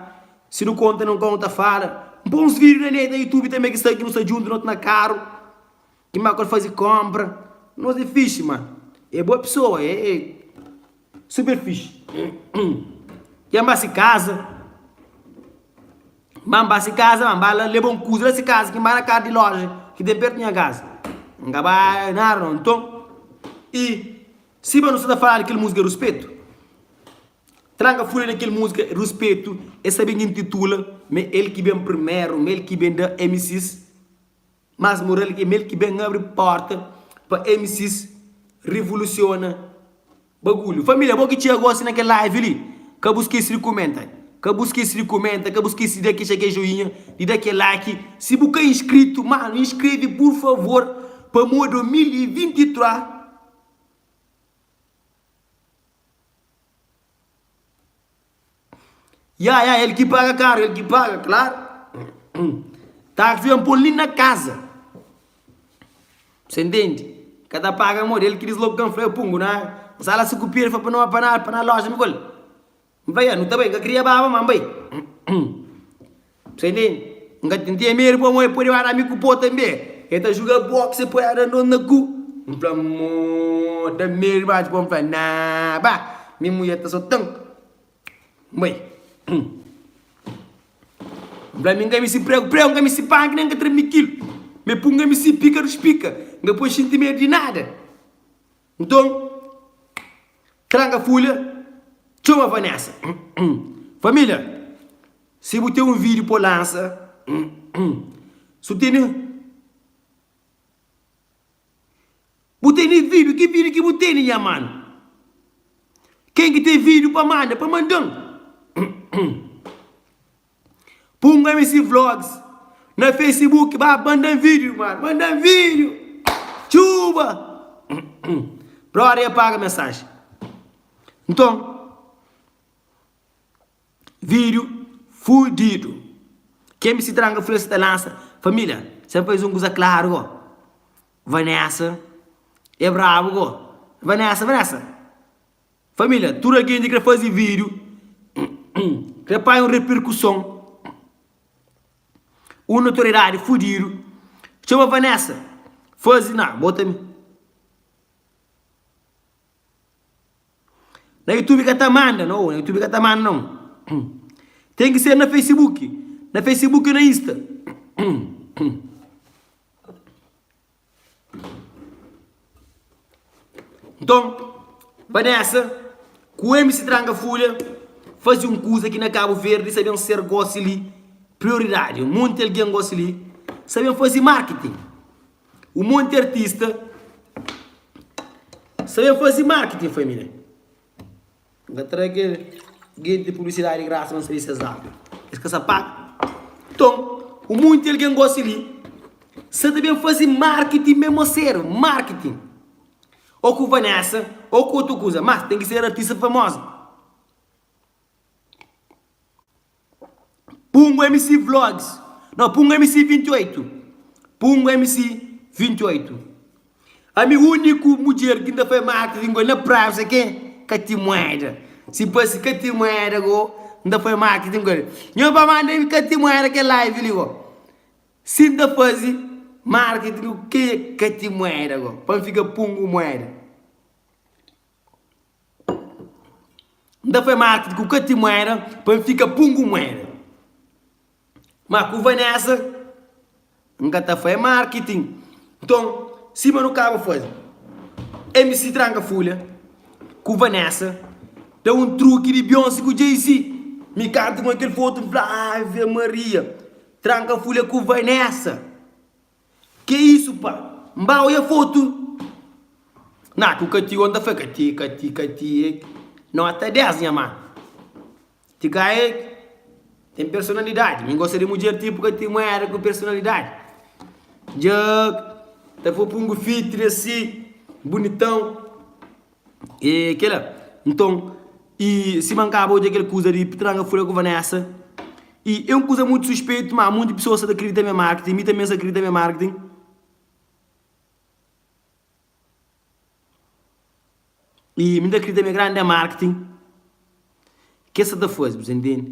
si nu konta nun kau nu ta fala. N pô uns vídeo na net, na youtube tanbe ki sta ki nu sta djuntu na otu na karu. Ki má ku el faze kónpra. Nos é fíxi, má é bo pesoa, é super fíxi. Ki el ba se kaza, má N ba se kaza, má N ba la leba un kuza la se kaza ki N ba na kaza di lója ki ten pértu di nha kaza. N ka ba nada nau. Nton, i si ba nu sta ta fala di kel múzika Ruspetu? Tranka fla di kel múzika Ruspetu, el sta ben intitula ma el ki ben primeru, ma el ki ben da MCs. Mas moral é mel ki ben abri porta pa MCs revolusiona bagulho. Família bo ki txia gosi na kel live li ka bu skesi di kumenta ka bu skesi di kumenta ka bu skesi di da ki txeke joinha di da ke like si bu ka inskritu mano inskreve pur favor pamo 2023 e. Ya, ya, el ki paga karu, el ki paga, klaru. Taksi ben pô-l li na kaza. Sen ntende? Ka ta paga modi? El ki disloka ka-m fla, Ê Pungu, na N sa la si ku Piera, el fla pa no, pa na, pa na loja. Mi fal-l, N fla, Ya, nu ta bai. N ka kria baba, ma N bai. Sai li, N ka ten ten medu pamodi el pode bada mi ku po tanbe. El ta juga boxe, el poi arandon na ku. N fla, Mo, N ten medu dimas. Dipoi N fla, Na, ba, mi mudjer ta so tan. N bai. N fla, Mi N ka misti pregu, pregu, N ka misti panki nen N ka tra mikilu. Mi pun, N ka misti pika dus pika. N ka poi sintimedu di nada. Nton, traga folha, txoma Vanessa. Família, si bu ten un vídiu pa lansa, si bu tene, bu tene vídiu, ki vídiu ki bu tene, nha mano? Ken ki ten vídiu pa manda, pa manda-m. Punga mi si vlogs na facebook ba bandan video mano bandan video tchuba brother e paga mensagem nton video fudido ke mc tranga fla si ta lança familia sem faz um kuza claro go vanessa e brabo go vanessa vanessa Família, tudu algen di kre fazi vídiu, kre panha un repirkuson. Un notoriedadi fudidu txoma Vanessa fazi na bota mi. Na youtube ka ta manda no, na youtube ka ta manda no. Ten ki ser na facebook, na facebook i na insta. Nton, Vanessa ku MC Tranga Fulha faze un kuza ki na Kabu Verdi sa ben ser gosi li prioridadi, un monti algen gosi li sa ben faze marketing, un monti artista sa ben faze marketing família. N ka tra kel genti di publisidadi grasa ma N sabe ses lábiu. Es ka sa paga. Nton, ku monti algen gosi li, Seta ben faze marketing mé mo ser marketing. Ô ku Vanessa, ô ku otu kuza. Mas ten ki ser artista famoza. Pungu MC vlogs Nau Pungu MC 28 Pungu MC 28 Ami uniku mudjer ki nta fai mati di ngoli na praia bu sai ken? Ka tin mueda Si pa si ka tin mueda go nta fai mati di ngoli Nho pa manda mi ka tin mueda kel live li go Si nta fazi marketing ku ken ka tin mueda go pa mi fika pungu mueda. N ta fai mati di ku kati muera pa N fika pungu muera ma ku Vanesa N ka ta fai marketing nton sima nu kaba fazi MC tranka fulha ku Vanesa da un truki di Bionsi ku Jay-Z mi kantu ku kel fotu N fla Ave Maria tranka fulha ku Vanesa. Ke isu pa? N ba oia fotu. Na ku ka tio, N ta fla, ka ti, ka ti, ka ti e. Nota 10, nha man. Ti ka e ten personalidadi. Mi N gosta di mudjer tipu ka ti, un muera ku personalidadi. Dja ta fla pa un gufitri asi, bunitau. E kela. Nton, i sima N kaba odja kel kuza di pitranga fla ku Vanessa, i é un kuza mutu suspeitu, má monti pesoas sa ta kridita ma é marketing, mi tanbê N sa kridita ma é marketing. I mi N ta kridita ma é grande marketing ki es sa ta faze, bu sa intende.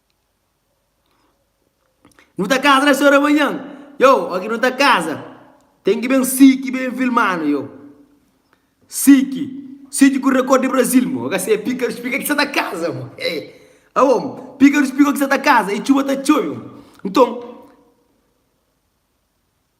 Nu ta kaza des ora manhan Yo, oki nu ta kaza Ten ki ben Siki ben filmanu yo Siki, Siki ku rekorde di Brazil Mo ka se pikarus pika ki sa ta kaza mo eh Awo mo, pikarus piko ki sa ta kaza i txuba ta txobe mo Nton,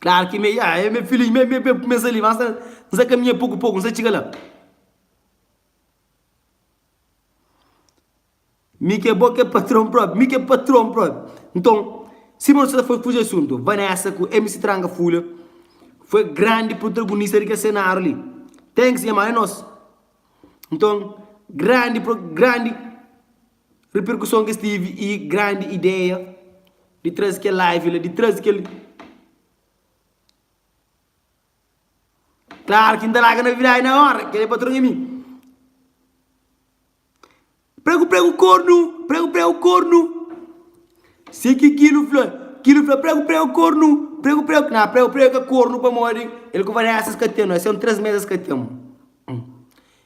Klaru ki me yaa, e me filhinhu, me be-be ku kumesa li, basta N sa kaminha poku-poku, N sa txiga la. Mi ki é bo, ki é patron propi, mi ki é patron propi. Nton, sima nu sta ta fla, fuji asuntu, Vanessa ku MC Tranga Fúlia foi grandi protagunista di kel senáriu li. Thanks nha mano, é nos. Nton, grandi pro, grandi. Riperkuson ki es tevi y grandi ideia di trazi kel live la, di trazi kel. Klaru ki N ta laga na vidadi na ora, kel-li patron é mi. Pregu pregu kornu, pregu pregu kornu. Si ki kilu fla, kilu fla pregu pregu kornu, pregu pregu. Na pregu pregu ka kornu pamodi el ku Vanessa es ka ten-nu, es ten-nu três mês es ka ten-mu.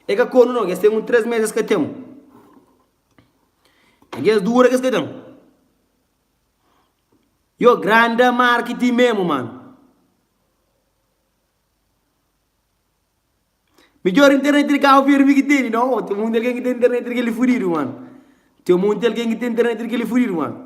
E ka kono no, kes ten un 3 mes es ka ten un. E kes dura kes ka ten. Yo grande marketing mesmo mano. Midjor internet di Cabo Verde ki tene no, tem muita alguém que tem internet que ele fudido mano. Tem muita alguém que tem internet que ele fudido mano.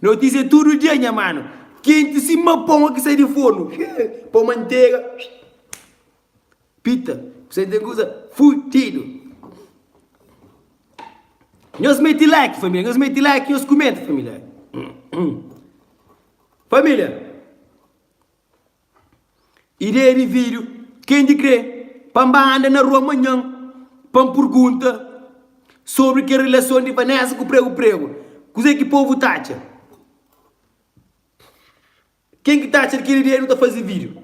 Notísia é tudo dia nha mano Kenti sima pão ki sai di forno Pão manteiga Pita ku sem tem kusa fudido Nhos meti like família Nhos meti like nhos kumenta família Família Ideia di vídiu, Ken di krê pa N ba anda na rua manhan pa N purgunta sobri kel relason di Vanessa ku pregu pregu? Kuzê ki povu ta atxa? Ken ki ta atxa di kel ideia di nu ta faze vídiu?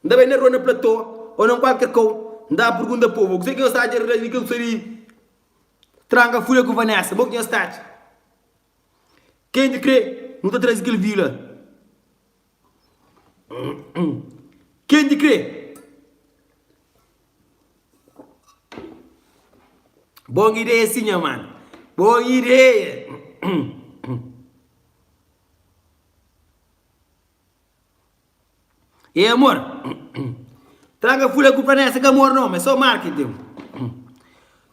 N ta bai na rua na platô ô na kualker kau N ta purgunta povu kuzê ki nhos ta atxa di relason di kel kusa di tranka fule ku Vanessa? Bo ki nhos ta atxa? Ken di krê nu ta traze kel vídiu la? Ken di kre Bon ideia si nha man Bon ideia Ei amor Traga fula ku Vanessa ka amor no, ma é so marketing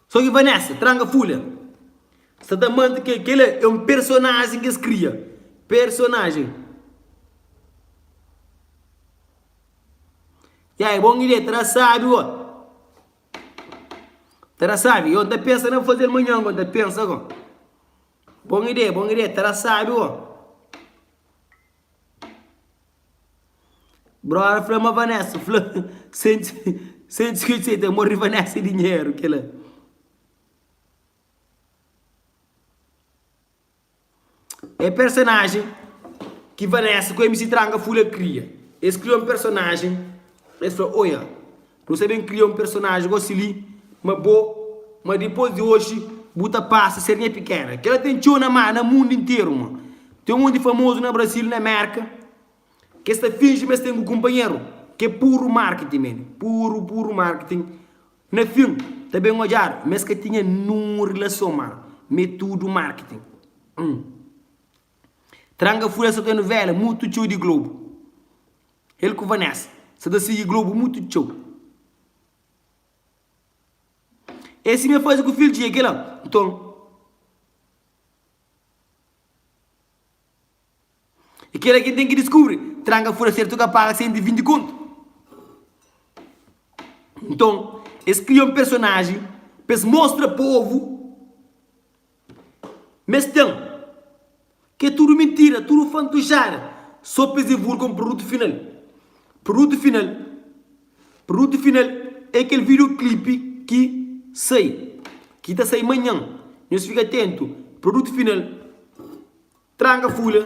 Só ki Vanessa tranga fulha sa ta mante ke kel é um personagem kes kria personagem. Ya é bom ilé tra sabi ó tra sabi yo ta pensa na fazel manhan ko ta pensa ko bom idé bom idé tra sabi ó. Brother fla ma Vanessa fla sem sem discutir sei tem morri Vanessa e dinheiro que lá é personagem que Vanessa com MC Tranga fula cria eles cria um personagem eles fla oia Nu ta ben kria un personaji gosi li, ma bo, ma dipos di oji bu ta pasa ser nha pikena. Kel-la ten txeu na má na mundu interu, ma ten un monti famozu na Brazil, na Mérka, ki es ta finji ma es ten ku kunpanheru. Kel puru marketing men, puru, puru marketing. Na fin, ta ben odjadu, ma es ka tinha ninhun rilason má, ma é tudu marketing. Hum. Tranca furesta ta novela mutu txeu di Globo. El ku Vanessa sa ta sigi Globo mutu txeu. É si m'é faze ku fil dje kela nton é kela ki n'ten ki diskubri Tranka fura sertu ka paga sen di vinti kontu Nton es kria un personaji p'es mostra povu. Mes ten. Ke tudu mintira, tudu fantujada so pes divulga un produtu final. Produtu final, produtu final e kel video klipi ki sai, ki ta sai manhan. Nhos fika atentu, produtu final, tranka fula.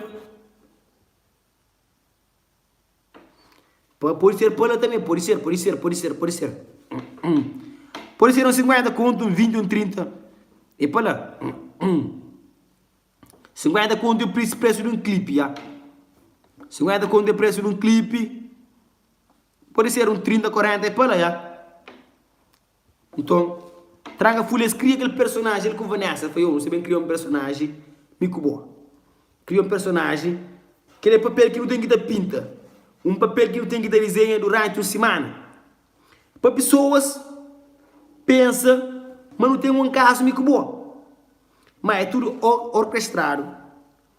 Pa, pode ser pa la tanbe, pode ser, pode ser, pode ser, pode ser. Pode ser un sinkuénta kontu, un vinti, un trinta, e pa la. Sinkuénta kontu é pris, presu di un klipi, ya. Sinkuénta kontu é presu di un klipi, pode ser un trinta, korenta, e pa la, ya. Nton, traga fúlia. Es kria kel personaji el ku Vanessa. El fla, Io nu sta ben kria un personaji, mi ku bo. Kria un personaji. Kel é papel ki nu ten ki ta pinta. Un papel ki nu ten ki ta dizenha duránti un simana. Pa pesoas pensa ma nu ten un kazu, mi ku bo. Má é tudu orkestradu.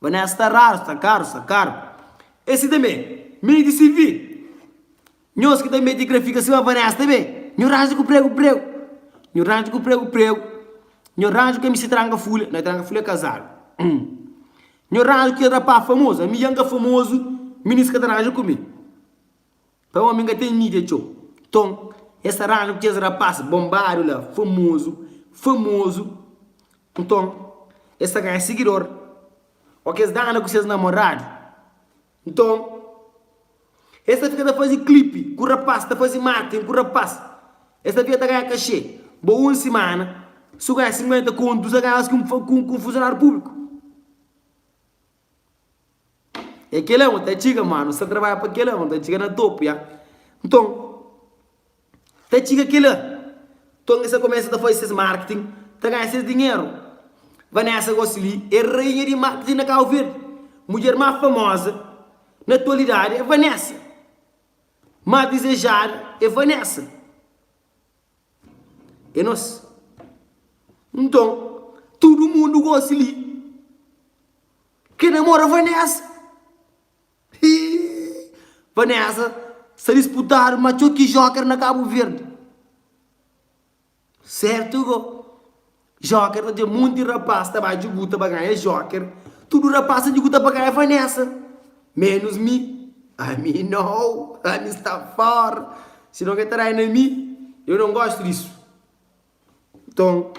Vanessa ta raru, sta karu, sta karu E si tanbe, mi di CV Nhos ki ta mete grafika sima Vanessa tanbe Nhu ranja ku pregu, pregu Nhu ranja ku pregu, pregu Nhu ranja ku MC Tranga Fulha Na Tranga Fulha é kazadu Nhu ranja ku kel rapá famozu Ami dja N ka famozu Minis ka ta ranja ku mi. Pa omi n'ka ten mídia txeu. Nton, es ta ranu ku kes rapás bonbadu la, famozu, famozu. Nton, es ta ganha sigidor. Óki es dana ku ses namoradu, nton es ta fika ta faze klipi ku rapás, ta faze marketing ku rapás. Es ta fika ta ganha kaxê. Bo, un simana, si bu ganha 50 kontu, bu sta ganha más ku un funsionáriu públiku. É kel-la N ta txiga, má nu sta trabadja pa kel-la. Nu ta txiga na topu ja. Nton, ta txiga kel-la. Nton, es ta kumesa ta faze ses marketing, ta ganha ses dinheru. Vanessa gosi li é rainha di marketing na Cabo Verde. Mudjer más famoza na atualidadi é Vanessa. Más dizejadu é Vanessa. É nos. Nton, tudu mundu gosi li. Ke namora Vanessa. Hii. Vanessa sa disputadu ma txoki joker na Kabu Verdi. Sertu go. Joker ta dja monti rapaz ta bai djuguta ba ganha joker tudu rapaz ta djuguta ba ganha vanessa menus mi ami nau ami sta for si no ke ta dai na mi eu non gosto disso nton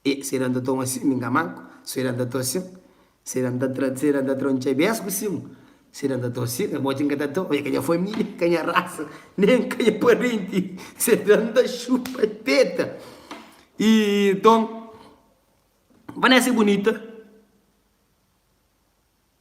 E se da-m ta toma sin, mi n'ka manku Se da-m ta to sin, se da-m ta tra Se da-m ta tra n'txai bes ku sin Se da-m ta to sin, amoti n'ka ta to E ka nha família, ka nha rasa, nen ka nha parenti Se da-m ta xupa e peta i ton Vanessa é bunita.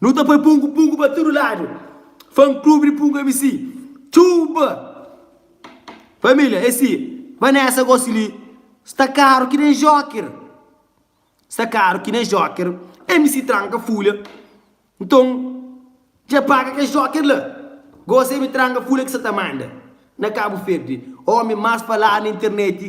Nu ta poi pungu pungu pa tudu ladu Fan club di pungu mc Txuuba Família esi Vanessa gosi li Sta karu ki nen joker Sta karu ki nen joker Mc tranka fulha Nton Dja paga kes joker la Gosi mi tranka fulha ki sa ta manda Na kabu ferdi Omi mas faladu na interneti.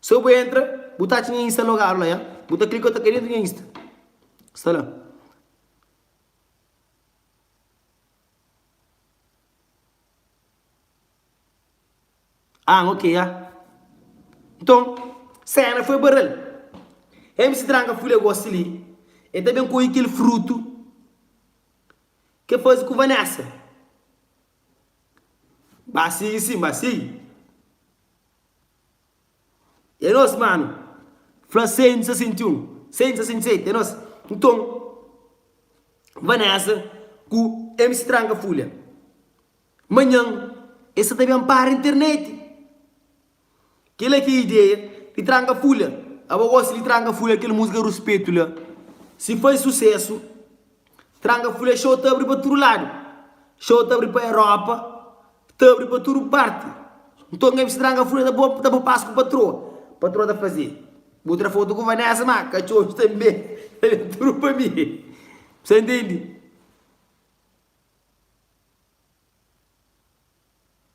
So bu entra, bu ta atxa nha insta logadu la ya. Bu ta klika ta kai dentu nha insta. Sta la. Ah, ok ya. Nton, sena foi barral. MC Tranka fui la gosi li. E ta ben kohi kel frutu ke fazi ku Vanessa. Ba sigui sin, ba sigui. É nos mano. Fla 161, 167 é nos. Nton, N ba nessa ku MC Tranka Fulha. Manhan, e sa ta ben para internet. Kela ki é ideia di Tranka Fulha. Aba gosi di Tranka Fulha kel musika Ruspetu la si fai susesu Tranka Fulha xou ta abri pa tudu ladu xou ta abri pa Europa ta abri pa tudu parti nton ngai meste Tranka Fulha ta bo ta bo pas ku patroa patroa ta faze bu tra fotu ku Vanessa ma ka txomi tanbe tudu pa mi sa intendi.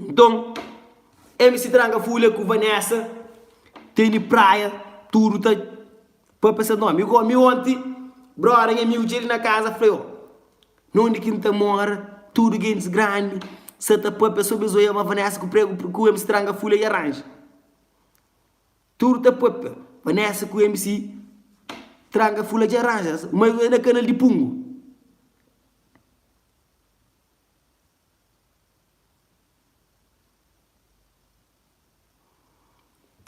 Nton, MC Tranga Fulha ku Vanessa ten di praia, tudu ta papia ses nomi. Mi gomi onti, broda, nha amigu txeu li na kaza fla yo na undi ki N ta mora, tudu gentis grandi sa ta papia sobri zoiaba Vanessa ku pregu ku MC Tranga Fulha i aranja. Tudu ta papia Vanessa ku MC Tranga Fulha dja aranja, ma es bai na kanal di Pungu.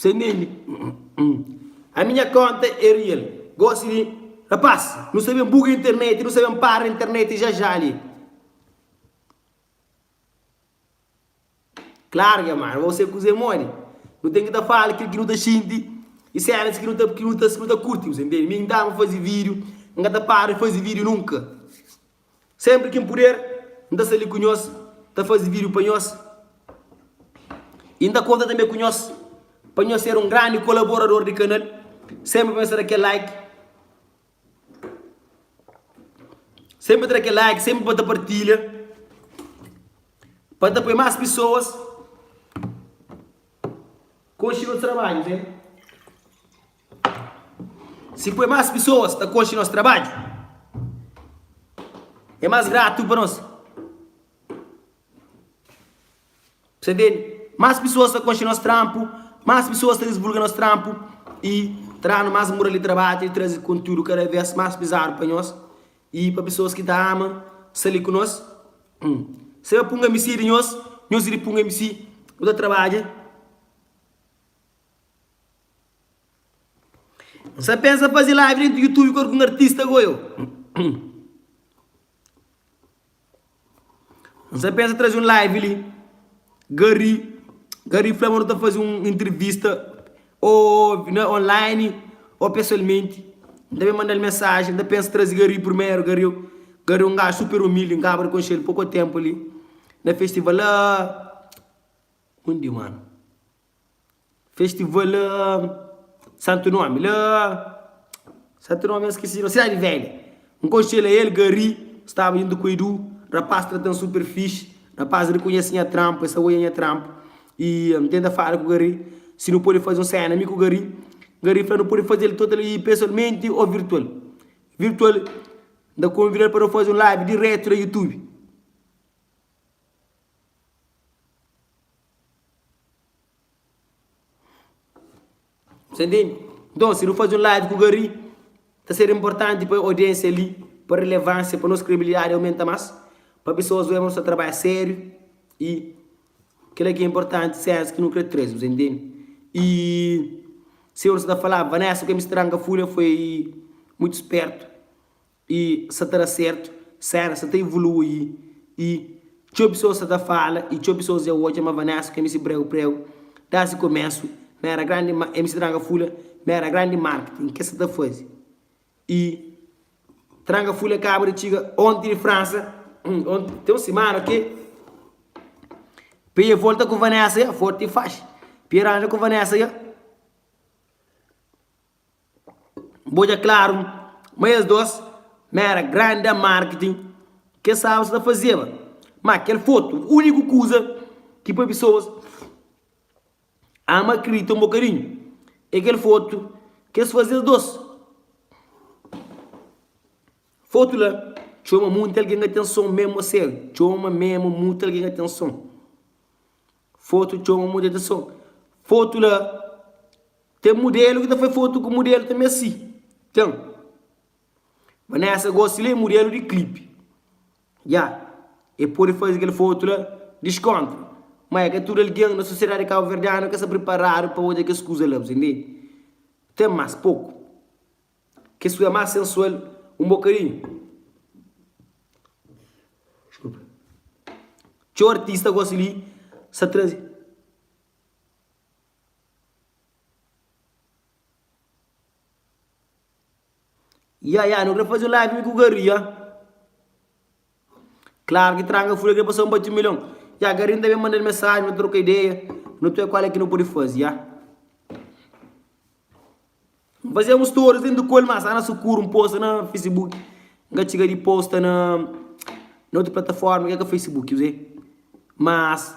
Sem menti, a minha conta é real. Gosi li, rapaz, nu sta ben buga internet, nu sta ben para internet já já li. Claro que é mal, mas você kuze modi, nu tem que ta fala kil ki nu ta xinti e cenas ki nu ta ki nu ta ki nu ta kurti, você entende? Mi, n'tava fazi vídeo, n'ka ta para fazi vídeo nunka. Senpri kin puder N ta sta li ku nhos Ta fazi vidiu pa nhos I N ta konta tanbe ku nhos Pa nhos ser un grandi kolaborador di kanal Senpri pa nhos ta da kel like Senpri ta da kel like Senpri pa ta partilha Pa ta poi mas pisoas Konxe nos trabadju ok. Si poi más pesoas ta konxe nos trabadju, é más gratu pa nos. Ses entende? Más pesoas ta konxe nos tranpu, más pesoas ta disvulga nos tranpu y ta da-nu más mural di trabadju y traze kontiúdu kada vez más pizadu pa nhos y pa pesoas ki ta ama sta li ku nos. Se ba punga misi di nhos, nhos iri punga misi. Bu ta trabadja. N sa pensa fazi live dentro youtube ku algun artista goa eu. N sa pensa trazi un live li Garry Garry fla ma nu ta fazi un intervista ou na online ou pessoalmente N ta ben mandal mensagem N ta pensa trazi Garry primeiro Garry Garry é un gajo super humilde N kaba di conhecel pouco tempo li na festival la undi mano. Festival santu nomi la santu nomi ya skisi no cidade velha un konxe la el gari staba juntu ku edu rapaz tratan super fixi rapaz rikonhesi nha trampu el sa oia nha trampu y am tenta fala ku gari si nu podi faze un sena mi ku gari gari fla nu podi fazel total y pesualmenti o virtual virtual nta konvidal pa nu faze un live diretu na youtube. Sa entendi? Nton, si nu faze un live ku Gary, ta ser inportanti pa audiênsia li, pa relevânsia, pa nos kredibilidadi aumenta más, pa pesoas oja ma nu sta ta trabadja sériu i kel-la ki é inportanti, sénsa ki nu krê traze-nu. Sa entendi? I sima nu sta ta falaba, Vanessa, ku el mistranka Fulha foi mutu spértu. i sa ta da sertu, Sarah sa ta ivolui i txeu pesoas sa ta fala i txeu pesoas dja odja ma Vanessa ku MC Breu Breu da si komesu ma era grandi ma MC Tranga Fula ma era grandi marketing ke sa ta fazi i Tranga Fula kaba di txiga onti di Fransa onti ten un simana ke p'e volta ku Vanessa ya forti faxi p'e ranja ku Vanessa ya. B'odja klaru ma es dôs ma éra grandá marketing ki es staba sa ta fazeba. Má kel fotu, úniku kuza ki poi pesoas ama kridita un bokadinhu, é kel fotu ki es faze es dôs. Fotu la txoma monti algen atenson, mésmu a sériu, txoma mésmu monti algen atenson. Fotu txoma mudjer ta son. Fotu la ten mudelu ki ta fai fotu ku mudelu tanbe asi. Ten. Vanessa gosi la é mudelu di klipi. Ya, e pode faze kel fotu la diskontra. Ma é ka tudu algen na sosiedadi kabuverdianu ka sta priparadu pa odja kes kuza la, bu ta intende? Ten más poku. Kes ku é más sensual un bokadinhu. Txeu artista gosi li sa traze. Ya ya nu kre faze un live mi ku garry ya. Klaru ki Tranga fla ke pasaun bati milhon. Ya Garin ta ben manda-l mesajen na troka ideia na tue kual e ki no podi fazi ya. N faze un stories denti kol ma sa na sukuru n posta na Facebook. N ka txiga di posta na na otu plataforma ke ka Facebook kuzê. Mas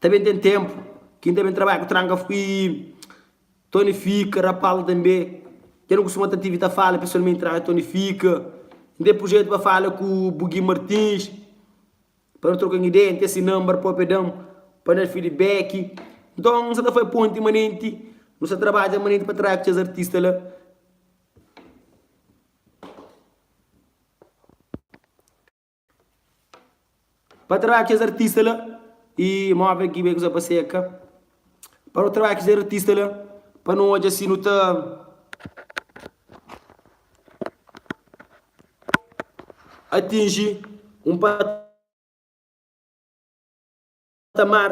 ta ben ten tempu ki n ta ben trabadja ku Tranga fui Tony fika, ra Paul tanbe. Dja nu kustuma ta tive ta fala pesualmenti, ra Tony fika. N ten prujetu pa fala ku bu Gui Martins pa nu troka un ideia, N ten si number prope da-m pa na-l feedback. Nton N sa ta fai ponti manenti, nu sa trabadja manenti pa trai ku kes artista la. Pa trabadja kes artista la y move aki bai kuza pa seka Pa nu trabadja kes artista la Pa nu odja si nu ta atinji un patamar.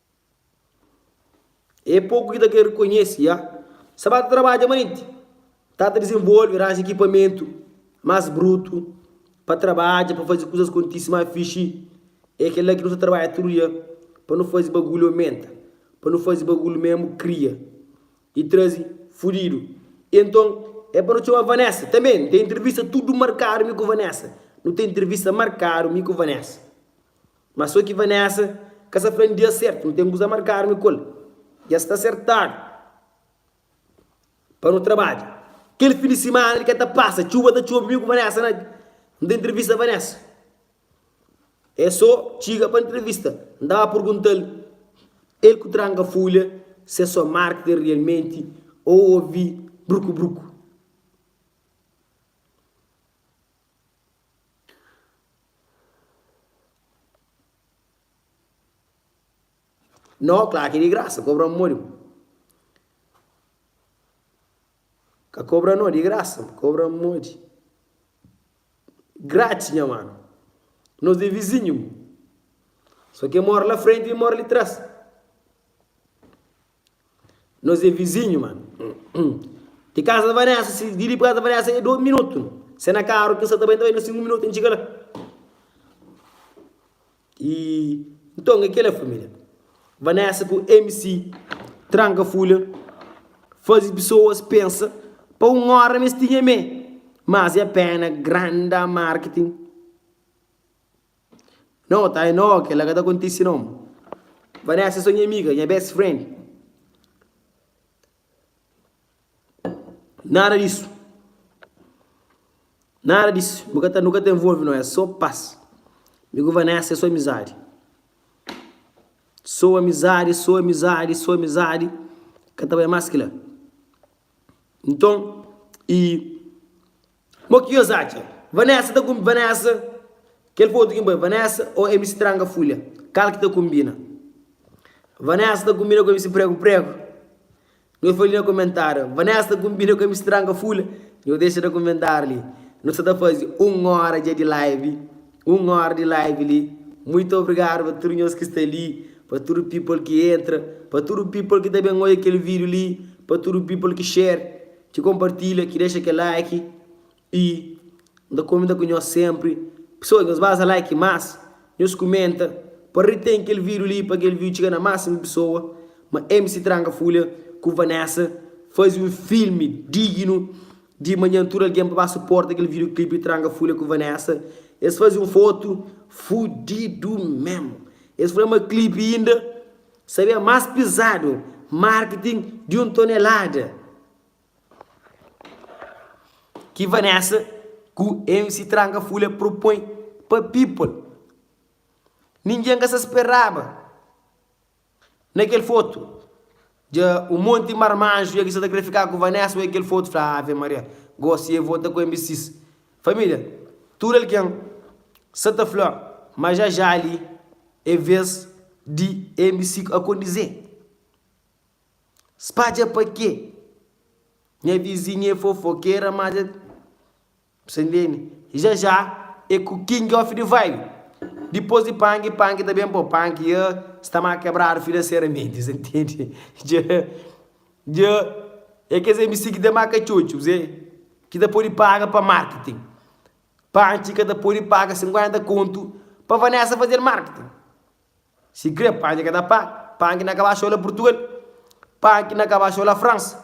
É poku ki ta kre rekonhese, ya. Sa ba ta trabadja manenti. Ta ta dizenvolve, ranja ikipamentu más brutu pa trabadja, pa faze kuzas kontise más fixi. É kel-la ki nu sta trabadja tudu dia pa nu faze bagulhu omenta, pa nu faze bagulhu mésmu kria i traze fudidu. I nton, é pa nu txoma Vanessa tanbê. Nu ten intervista tudu markadu mi ku Vanessa. Nu ten intervista markadu mi ku Vanessa. Má sô ki Vanessa ka sa fla N dia sértu, nu ten kuza markadu mi ku el. Dja sta sertadu pa nu trabadja. Kel fin di simana li ka ta pasa, txuba ta txobe, mi ku Vanessa na N ta intrivista Vanessa. É sô txiga pa intrivista, N ta ba pergunta-l, el ku tranka folha si é sô marketing rialmenti ô obi bruku-bruku. No, klar ki di grasa, kobra modi. Ka kobra no, di grasa, kobra modi. Grátis, nha mano. Nos de vizinho. Só que mora lá frente e mora ali trás. Nos é vizinhu ma Di casa da Vanessa si di li pa casa da Vanessa é dois minuto Se na carro ki sa ta bai, talvez na cinco minuto e txiga la E nton é kela família Vanessa ku MC tranka fulha Fazi pisoas pensa pa un ora ma es tinha mé Mas é pena grande marketing No, Thay, no, kel-la ka ta kontise no. Vanessa é sô nha amiga, nha best friend. Nada disu. Nada disu. Nu ka ta, nu ka ta envolve no, é sô pas. Mi ku Vanessa é sô amizadi. Sô amizadi, sô amizadi, sô amizadi, ka ta bai más ki la. Nton, i. Mo ki nhos atxa? Vanessa ta kunbi Vanessa? Kel fotu kin bai Vanessa o MC Tranga Fulha? Kal ki ta kunbina? Vanessa ta kunbina ku MC Prego Prego? Nhos fla li na komentáriu. Vanessa ta kunbina ku MC Tranga Fulha? Nhos dexa na komentáriu li. Nu sa ta fazi un óra dja di live. Un óra di live li. Muitu obrigadu pa tudu nhos ki sta li, pa tudu people ki entra, pa tudu people ki ta ben odja kel vídiu li, pa tudu people ki share. Ki konpartilha, ki dexa kel like y N ta komenta ku nhos senpri. Pesoas nhos baza like mas, nhos kumenta pa retém kel vídeo li pa kel vídeo txiga na másimu pesoa. Ma MC Tranka Fulha ku Vanessa fazi un filmi dignu di manhan tudu algen pa ba suporta kel vídeo clipe Tranka Fulha ku Vanessa. Es fazi un fotu fudidu mesmu. Es fla ma clipe inda. Sabia más pizadu, marketing di un tonelada. Ki Vanessa ku MC Tranka Fulha propõe pa people, ningen ka sa speraba. Na kel fotu, dja un monti marmanju ya ki sa ta kre fika ku Vanessa oi kel fotu, fla, Ave Maria, gosi e vota ku MBCs. Família, Tudu algen sa ta fla ma ja ja li é vez di MCQ akondizê Spadja pa kê? Nha vizinha é fofokera mas é Sa intende? Ja ja é ku king of the vibe Dipôs di pangi, pangi ta ben pa o panki Sta má kebradu finanseramenti Sa intende? Dja. Dja é kes MC ki ta marka txotxus é ki ta pode paga pa marketing. Panchi ka ta pode paga 50 kontu pa Vanessa faze-l marketing. Sikrê Panchi ka ta paga, Panchi na kaba xou la Purtugal, Panchi na kaba xou la Fransa.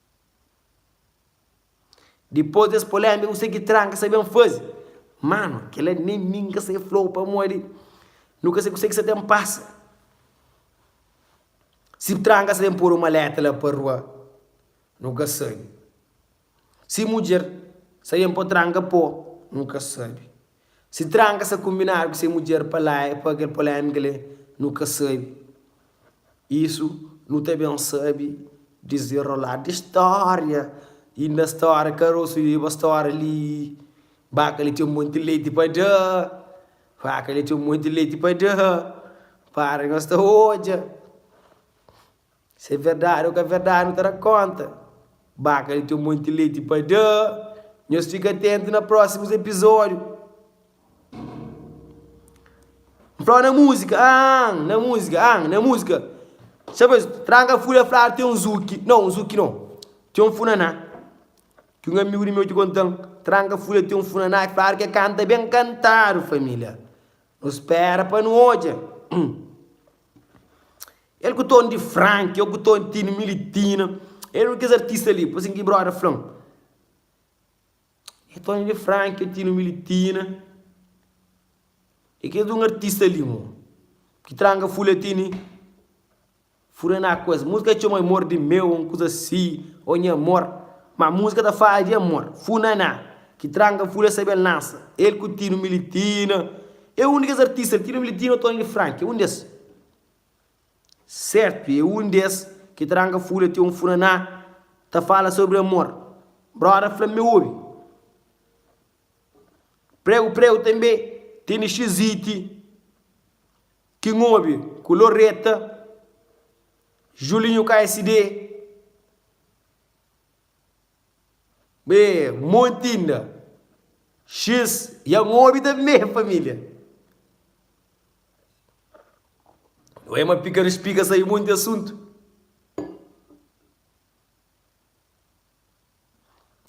Dipôs di es pô-l enbi, kuzê ki Tran ka sabe ben faze? Mano, kel-la nen mi N ka sai fla-u pamodi nu ka sai kuzê ki sta ta N pasa. Si Tran ka sta ben pô-l un maleta la pa rua, nu ka sabe. Si mudjer sta ben pô Tran ka pô, nu ka sabe. Si tranka sa kumbinadu ku se mudjer pa la e pa kel polemika le nu ka sabi isu nu ta ben sabi dizenrolar di storia i na storia karosu i ba storia li baka li ten monti leti pa da faka li ten monti leti pa da para nos ta odja. Si é verdadi o ka verdadi nu ta da konta. Baka li ten monti leti pa da. Nhos fika atentu na prosimus episodiu. N flau na musika aahn na musika aahn na musika Sa bes tranka fudi a fladu ten un zuki no un zuki no ten un funaná ki un amigu di meu ki kontan tranka fudi a ten un funaná ki fladu ki e kanta ben kantadu familia nu spera pa nu odja El ku ton di frank eu ku ton tini militina el un kes artista li poi sin ki brother flan el tony di frank eu tino militina e kes un artista li mo ki tranga full eu tini fura na kues musika txeu ma amor di meu un kuza si o nha amor ma musika ta fala di amor funa na ki tranga full eu sabe el lansa el ku tino militina eu un di kes artista li tino militina tony di frank eu un des. Serpi é un di es ki ta ranga fúria ti un furaná ta fala sobri amor. Bróda fla-m ma é obi. Pregu Pregu tanbê tene xiziti ki N obi ku Loreta, Julinho KSD, be monti inda. X ya N obi tanbê, família. Ué ma pika rispika sai monti asuntu.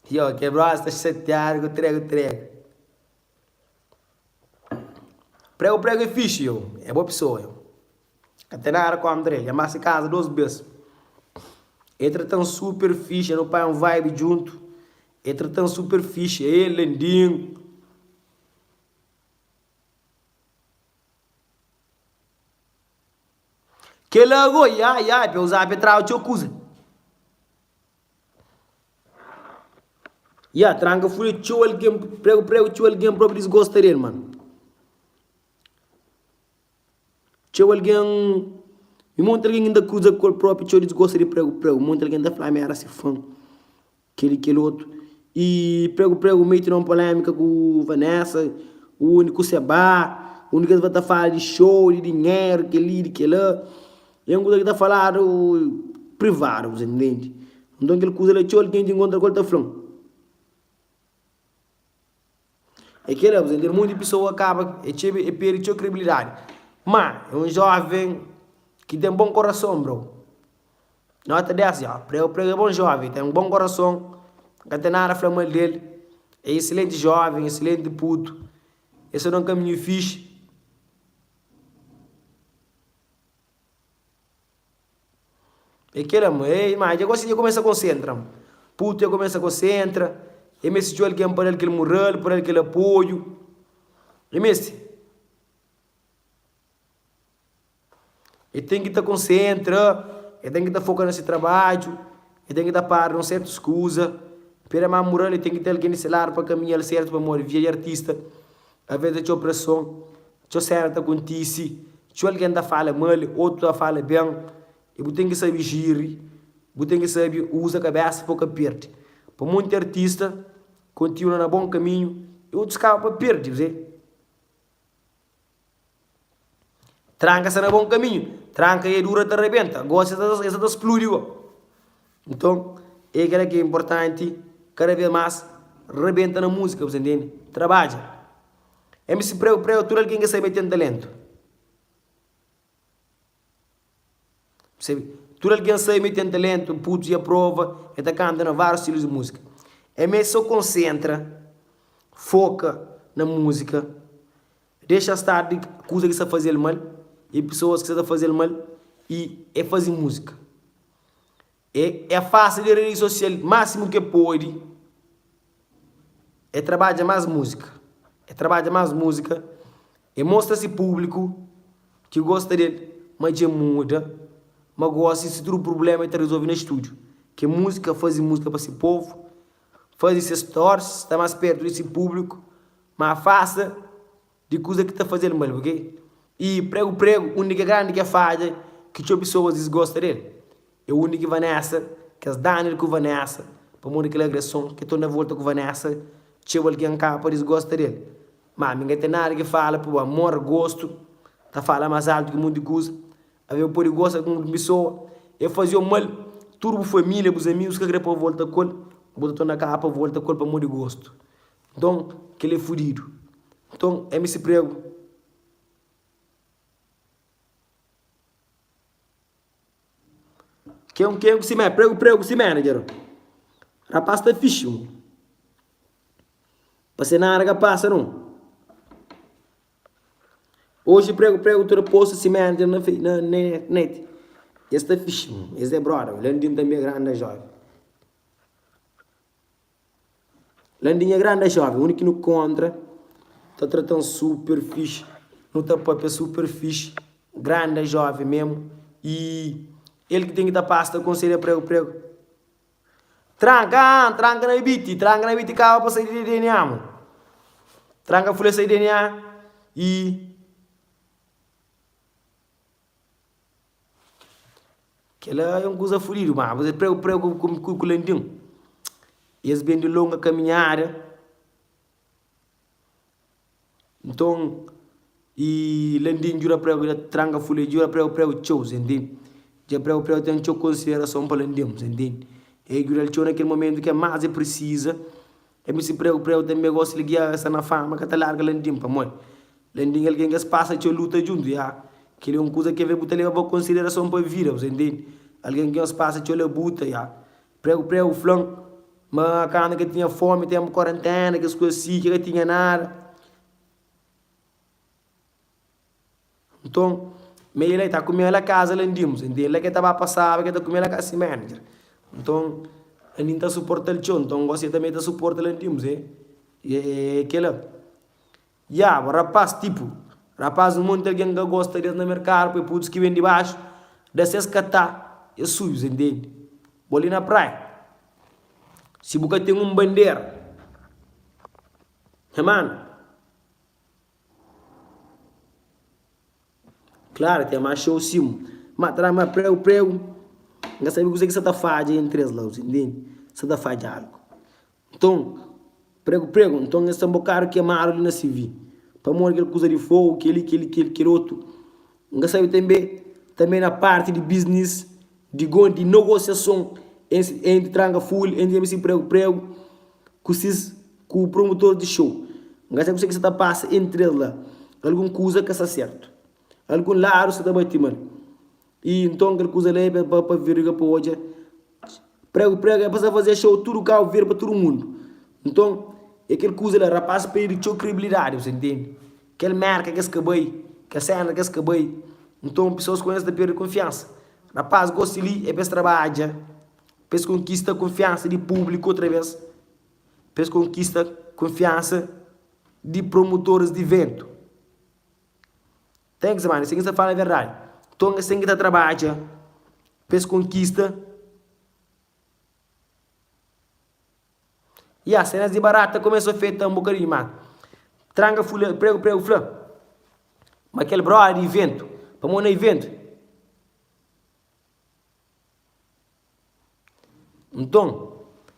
Yo ke bros ta chateado ku trego trego. Prego prego é fixe yo, é boa pessoa yo. Ka tem nada contra ele, já massa casa duas vezes. Ele tratam super fixe, eu pai um vibe junto. Ele tratam super fixe, ele lindinho. Kel la goi ai ai pe uza pe traba txeu kuza. Ya tranka fule txeu algen pregu pregu txeu algen propi disgosta del man. Txeu algen i monti algen inda kruza kol propi txeu disgosta di pregu pregu. Monti algen ta fla mi era si fan. Kel i kel otu. I pregu pregu mei ti na un polemika ku Vanessa undi ku Seba undi kes ba ta fala di show di dinheru kel li di kel la i un kuza ki ta faladu privadu bu sa intendi nton kel kuza la txeu algen ki inkontra ku el ta fla-m. É kel-la, bu ta entende? Monti di pesoa kaba, é txeu, é perde txeu kredibilidadi. Má, é un jóven ki ten bon korason, bro. Nota 10, dja. Prega ku prega, é bon jóven, ten bon korason, N ka ten nada fla mal di-l. É isilenti jóven, isilenti putu. Es ta da un kaminhu fixi. É kel la ma ei ma dja gosi dja kumesa konsentra-m. Putu dja kumesa konsentra, e meste txeu algen pa da-l kel mural, pa da-l kel apoiu. E meste. E ten ki ta konsentra, e ten ki ta foka na se trabadju, e ten ki ta para na un sertus kuza. Pera ma mural li ten ki ten algen di se ladu pa kaminha-l sertu pamodi, via di artista, avês ta txeu preson. Txeu séna ta kontise, txeu algen ta fala mal, otu ta fala ben, i bu ten ki sabe jiri, bu ten ki sabe uza kabésa pa bu ka perde. Pa monti artista kontinua na bon kaminhu, i otus kaba pa perde bze. Tranka sta na bon kaminhu, tranka e dura ta rabenta, gosi e sa ta spludi go. Nton, e kila ki e inportanti, kada vez mas rabenta na muzika, bu sta ntende? Trabadja. MC Preu Preu, tudu algen ke sabe ten talentu. Tudu algen sabe mi ten talentu, putus dja prova, e ta kanta na vários stilus di músika. MC so konsentra, foka na músika, dexa star di kuza ki sa fazel mal, e pesoas ki sa ta fazel mal, e e fazi músika. E afasta di redi sosial másimu ki e pode. E trabadja más múzika. E trabadja más múzika. E mostra se públiku ki gosta di el ma dja muda, ma gósi si tudu prubléma el ta rezolve na stúdiu. Ke múzika, faze múzika pa se povu, faze se stories, sta más pértu di se públiku, ma afasta. Di kuza ki ta faze-l mal, bu krê i pregu pregu undi ki é grandi kes fadja ki txeu pesoas disgosta di el? É undi ki Vanessa, kes danu el ku Vanessa, pamodi kel agreson ki torna volta ku Vanessa txeu algen kapa disgosta di el. Má, mi ka ten nada ki fala pa bu. Amor, gostu, ta fala más altu ki monti kuza. Alvês bu pode gosta di un pesoa, el faze-u mal, tudu bu família, bus amigus ka krê pa bu volta ku el, bu ta torna kapa volta ku el pamodi gostu. Nton, kel é fudidu. Nton, é mi si pregu. Kengu, kengu si mé, pregu, pregu si manager. Rapás ta fixi un. Pa se nada ka pasa nun. Oji pregu, pregu ta da postu si manager na fe, na net. Es ta fixi un. Es é brother, Landim tanbe é grande joia. Landinha grande é jovem, undi ki nu kontra ta trata-m super fixi Nu ta papia super fixi, grande é jovem mesmo i el ki tem ki ta passa ta aconselha prego prego Tranca haa, tranca na biti, tranca na biti kaba pa sai di dna mo Tranca fule sai dna i. Kela é un kuza fudidu, má abus é pregu pregu ku kulandin. I es ben di longa kaminhada. Nton, i landin djuda pregu, i da tranga fula, i djuda pregu pregu txeu, ses intende? Dja pregu pregu ten txeu konsiderason pa landin, ses intende? I el djuda-l txeu na kel momentu ki el más el presiza. Mc Preu Preu tanbe gosta li guiarra sta na fama ka ta larga Landim pamoi Landim é algen ki es passa txeu luta djuntu ya keli é un kuza ke ve bu ta leba pa konsiderason pa vida bu ta intendi algen ki nhos passa txeu labuta ya Preu Preu fla-m ma kandu ke tinha fomi tenpu kuarentena kes kuza si ke ka tinha nada. Nton, ma el la e ta kume la kaza la ndinmu. Sen ten la ke ta ba pasaba ke ta kume la kaza si manager. Nton, la nin ta suportal txeu. Nton, gosi e tanbe ta suporta la ndinmu se e kela. Ya bo rapaz, tipu, rapaz un monti algen ka gosta des na merkadu pa e pudus ki ben dibaxu da ses katá e suju, sen tende. Bo li na praia, si bu ka ten un bandera, nha mano, Klára ten más txeu sim. Má tra má preu preu. N ka sabe kuzê ki sa ta fadja entri es la, bu ta intende? Sa ta fadja algu. Nton, pregu pregu, nton es ten bokadu kemadu li na sivi, pamodi kel kuza di fogu, kel-li, kel-li, kel-li, kel otu. N ka sabe tanbe, tanbe na parti di bisnis, di gon di nogosiason entri tranga ful, entri abri si pregu pregu ku sis ku promutor di show. N ka sabe kuse ki sa ta pasa entri es la. Algun kuza ka sta sertu. Algun ladu sa ta bati mal. I nton kel kuza la e pa pa virga pa odja Pregu pregu é pa sa fazê show tudu kau vira pa tudu mundu nton é kel kuza la rapaz perde txeu kredibilidadi bu sa ntende kel merka kes ka bai kel sena kes ka bai nton pesoas ku es ta perde konfiansa rapaz gosi li é pa es trabadja pa es konkista konfiansa di publiku otra vez pa es konkista konfiansa di promutoris di ventu. Thanks mano, sen ki sa fala verdade, Tonga sen ki ta trabadja pa es konkista, ya senas di barata ta komesa afeta-m bokadinhu ma tranga fula pregu pregu fla ma kel brother di iventu pamodi na iventu Nton,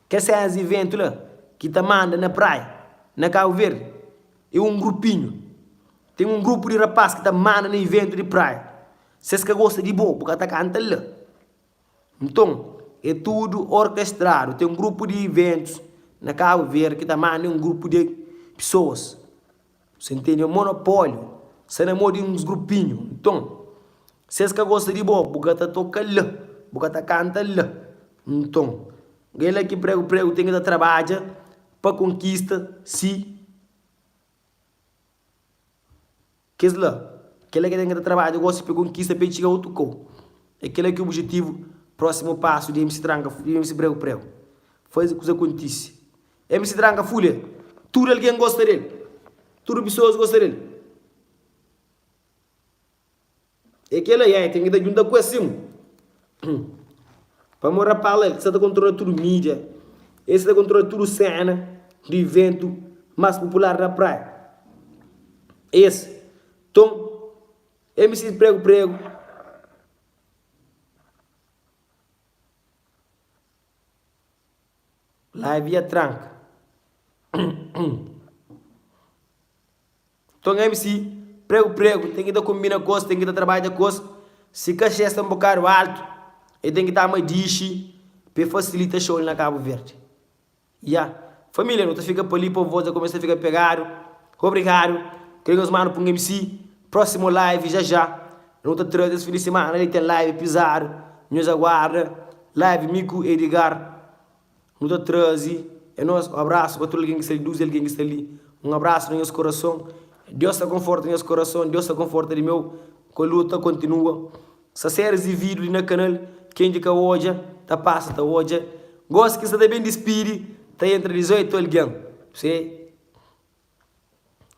kes es iventu la ki ta manda na praia na Kabu Verdi é un grupinhu. Ten un grupu di rapás ki ta manda na iventu di praia. Si es ka gosta di bo, bu ka ta kanta la. Nton, é tudu orkestradu. Ten un grupu di iventus na Kabu Verdi ki ta manda un grupu di pesoas. Sen tene monopóliu Sta na mô di uns grupinhu Nton, si es ka gosta di bo Bu ka ta toka la Bu ka ta kanta la Nton, ka é la ki pregu pregu Ten ki ta trabadja Pa konkista si Kes la Ka é la ki ten ki ta trabadja gosi Pa konkista pa é txiga otu kau É kel la ki obijetivu Prósimu pasu di MC Tranka Di MC Pregu Pregu Faze kuza kontise. MC Tranca Fulia Tudu algen gosta del Tudu pesoas gosta del É kela yeah Ten ki ta djunta ku es sim Pamo Rapala el ki sa ta kontrola tudu mídia El sa ta kontrola tudu sena di iventu Mas popular na praia Es Ton MC Pregu Pregu. Lá avia tranka. Nton mc, pregu pregu, ten ki ta konbina ku-s, ten ki ta trabadja ku-s. Si kaxê sta un bokadu altu, e ten ki ta ama dixi pa e fasilita xou li na Kabu Verdi. Ya, família, nu ta fika pa li, pa un vós dja kumesa fika pegadu. Obrigadu, krê nhos manu punga mc Próximo live já já nu ta traze es fin di semana li ten live pizadu nhos aguarda live mi ku Edgar nu ta traze é nós um abraço pa tudo alguém que está ali duze alguém que está ali um abraço na nhos coração Deus ta conforta nhos coração Deus ta conforta li meu ku luta continua sa series e vídeo li na canal quem ki ka odja ta passa ta odja gosi ki sta ta bem despidi ta entra 18 alguém p'se.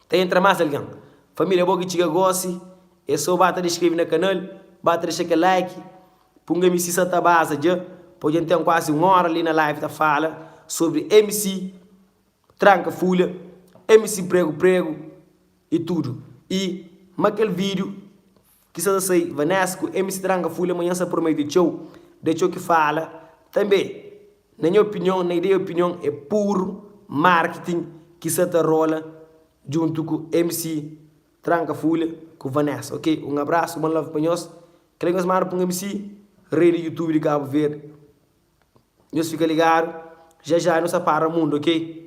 Ta entra más algen? Família bo ki txiga gósi é sô ba ta da skrebe na kanal, ba ta dexa kel like, punga-m si sa ta baza dja pô dja n ten kuazi un óra li na live ta fala sobri mc tranka fulha, mc pregu pregu i tudu i ma kel vídiu. Ki sa sa sai Vaness ku MC Tranga fuli amanhã sa prometi txeu da txeu ki fala tanbe na nha opinion na ideia opinion é puru marketing ki sa ta rola djuntu ku MC Tranga fuli ku Vaness ok un abraço one love pa nhos kila nhos manda pa un MC rei di youtube di cabo verde nhos fika ligado já já nhos ta para mundo ok.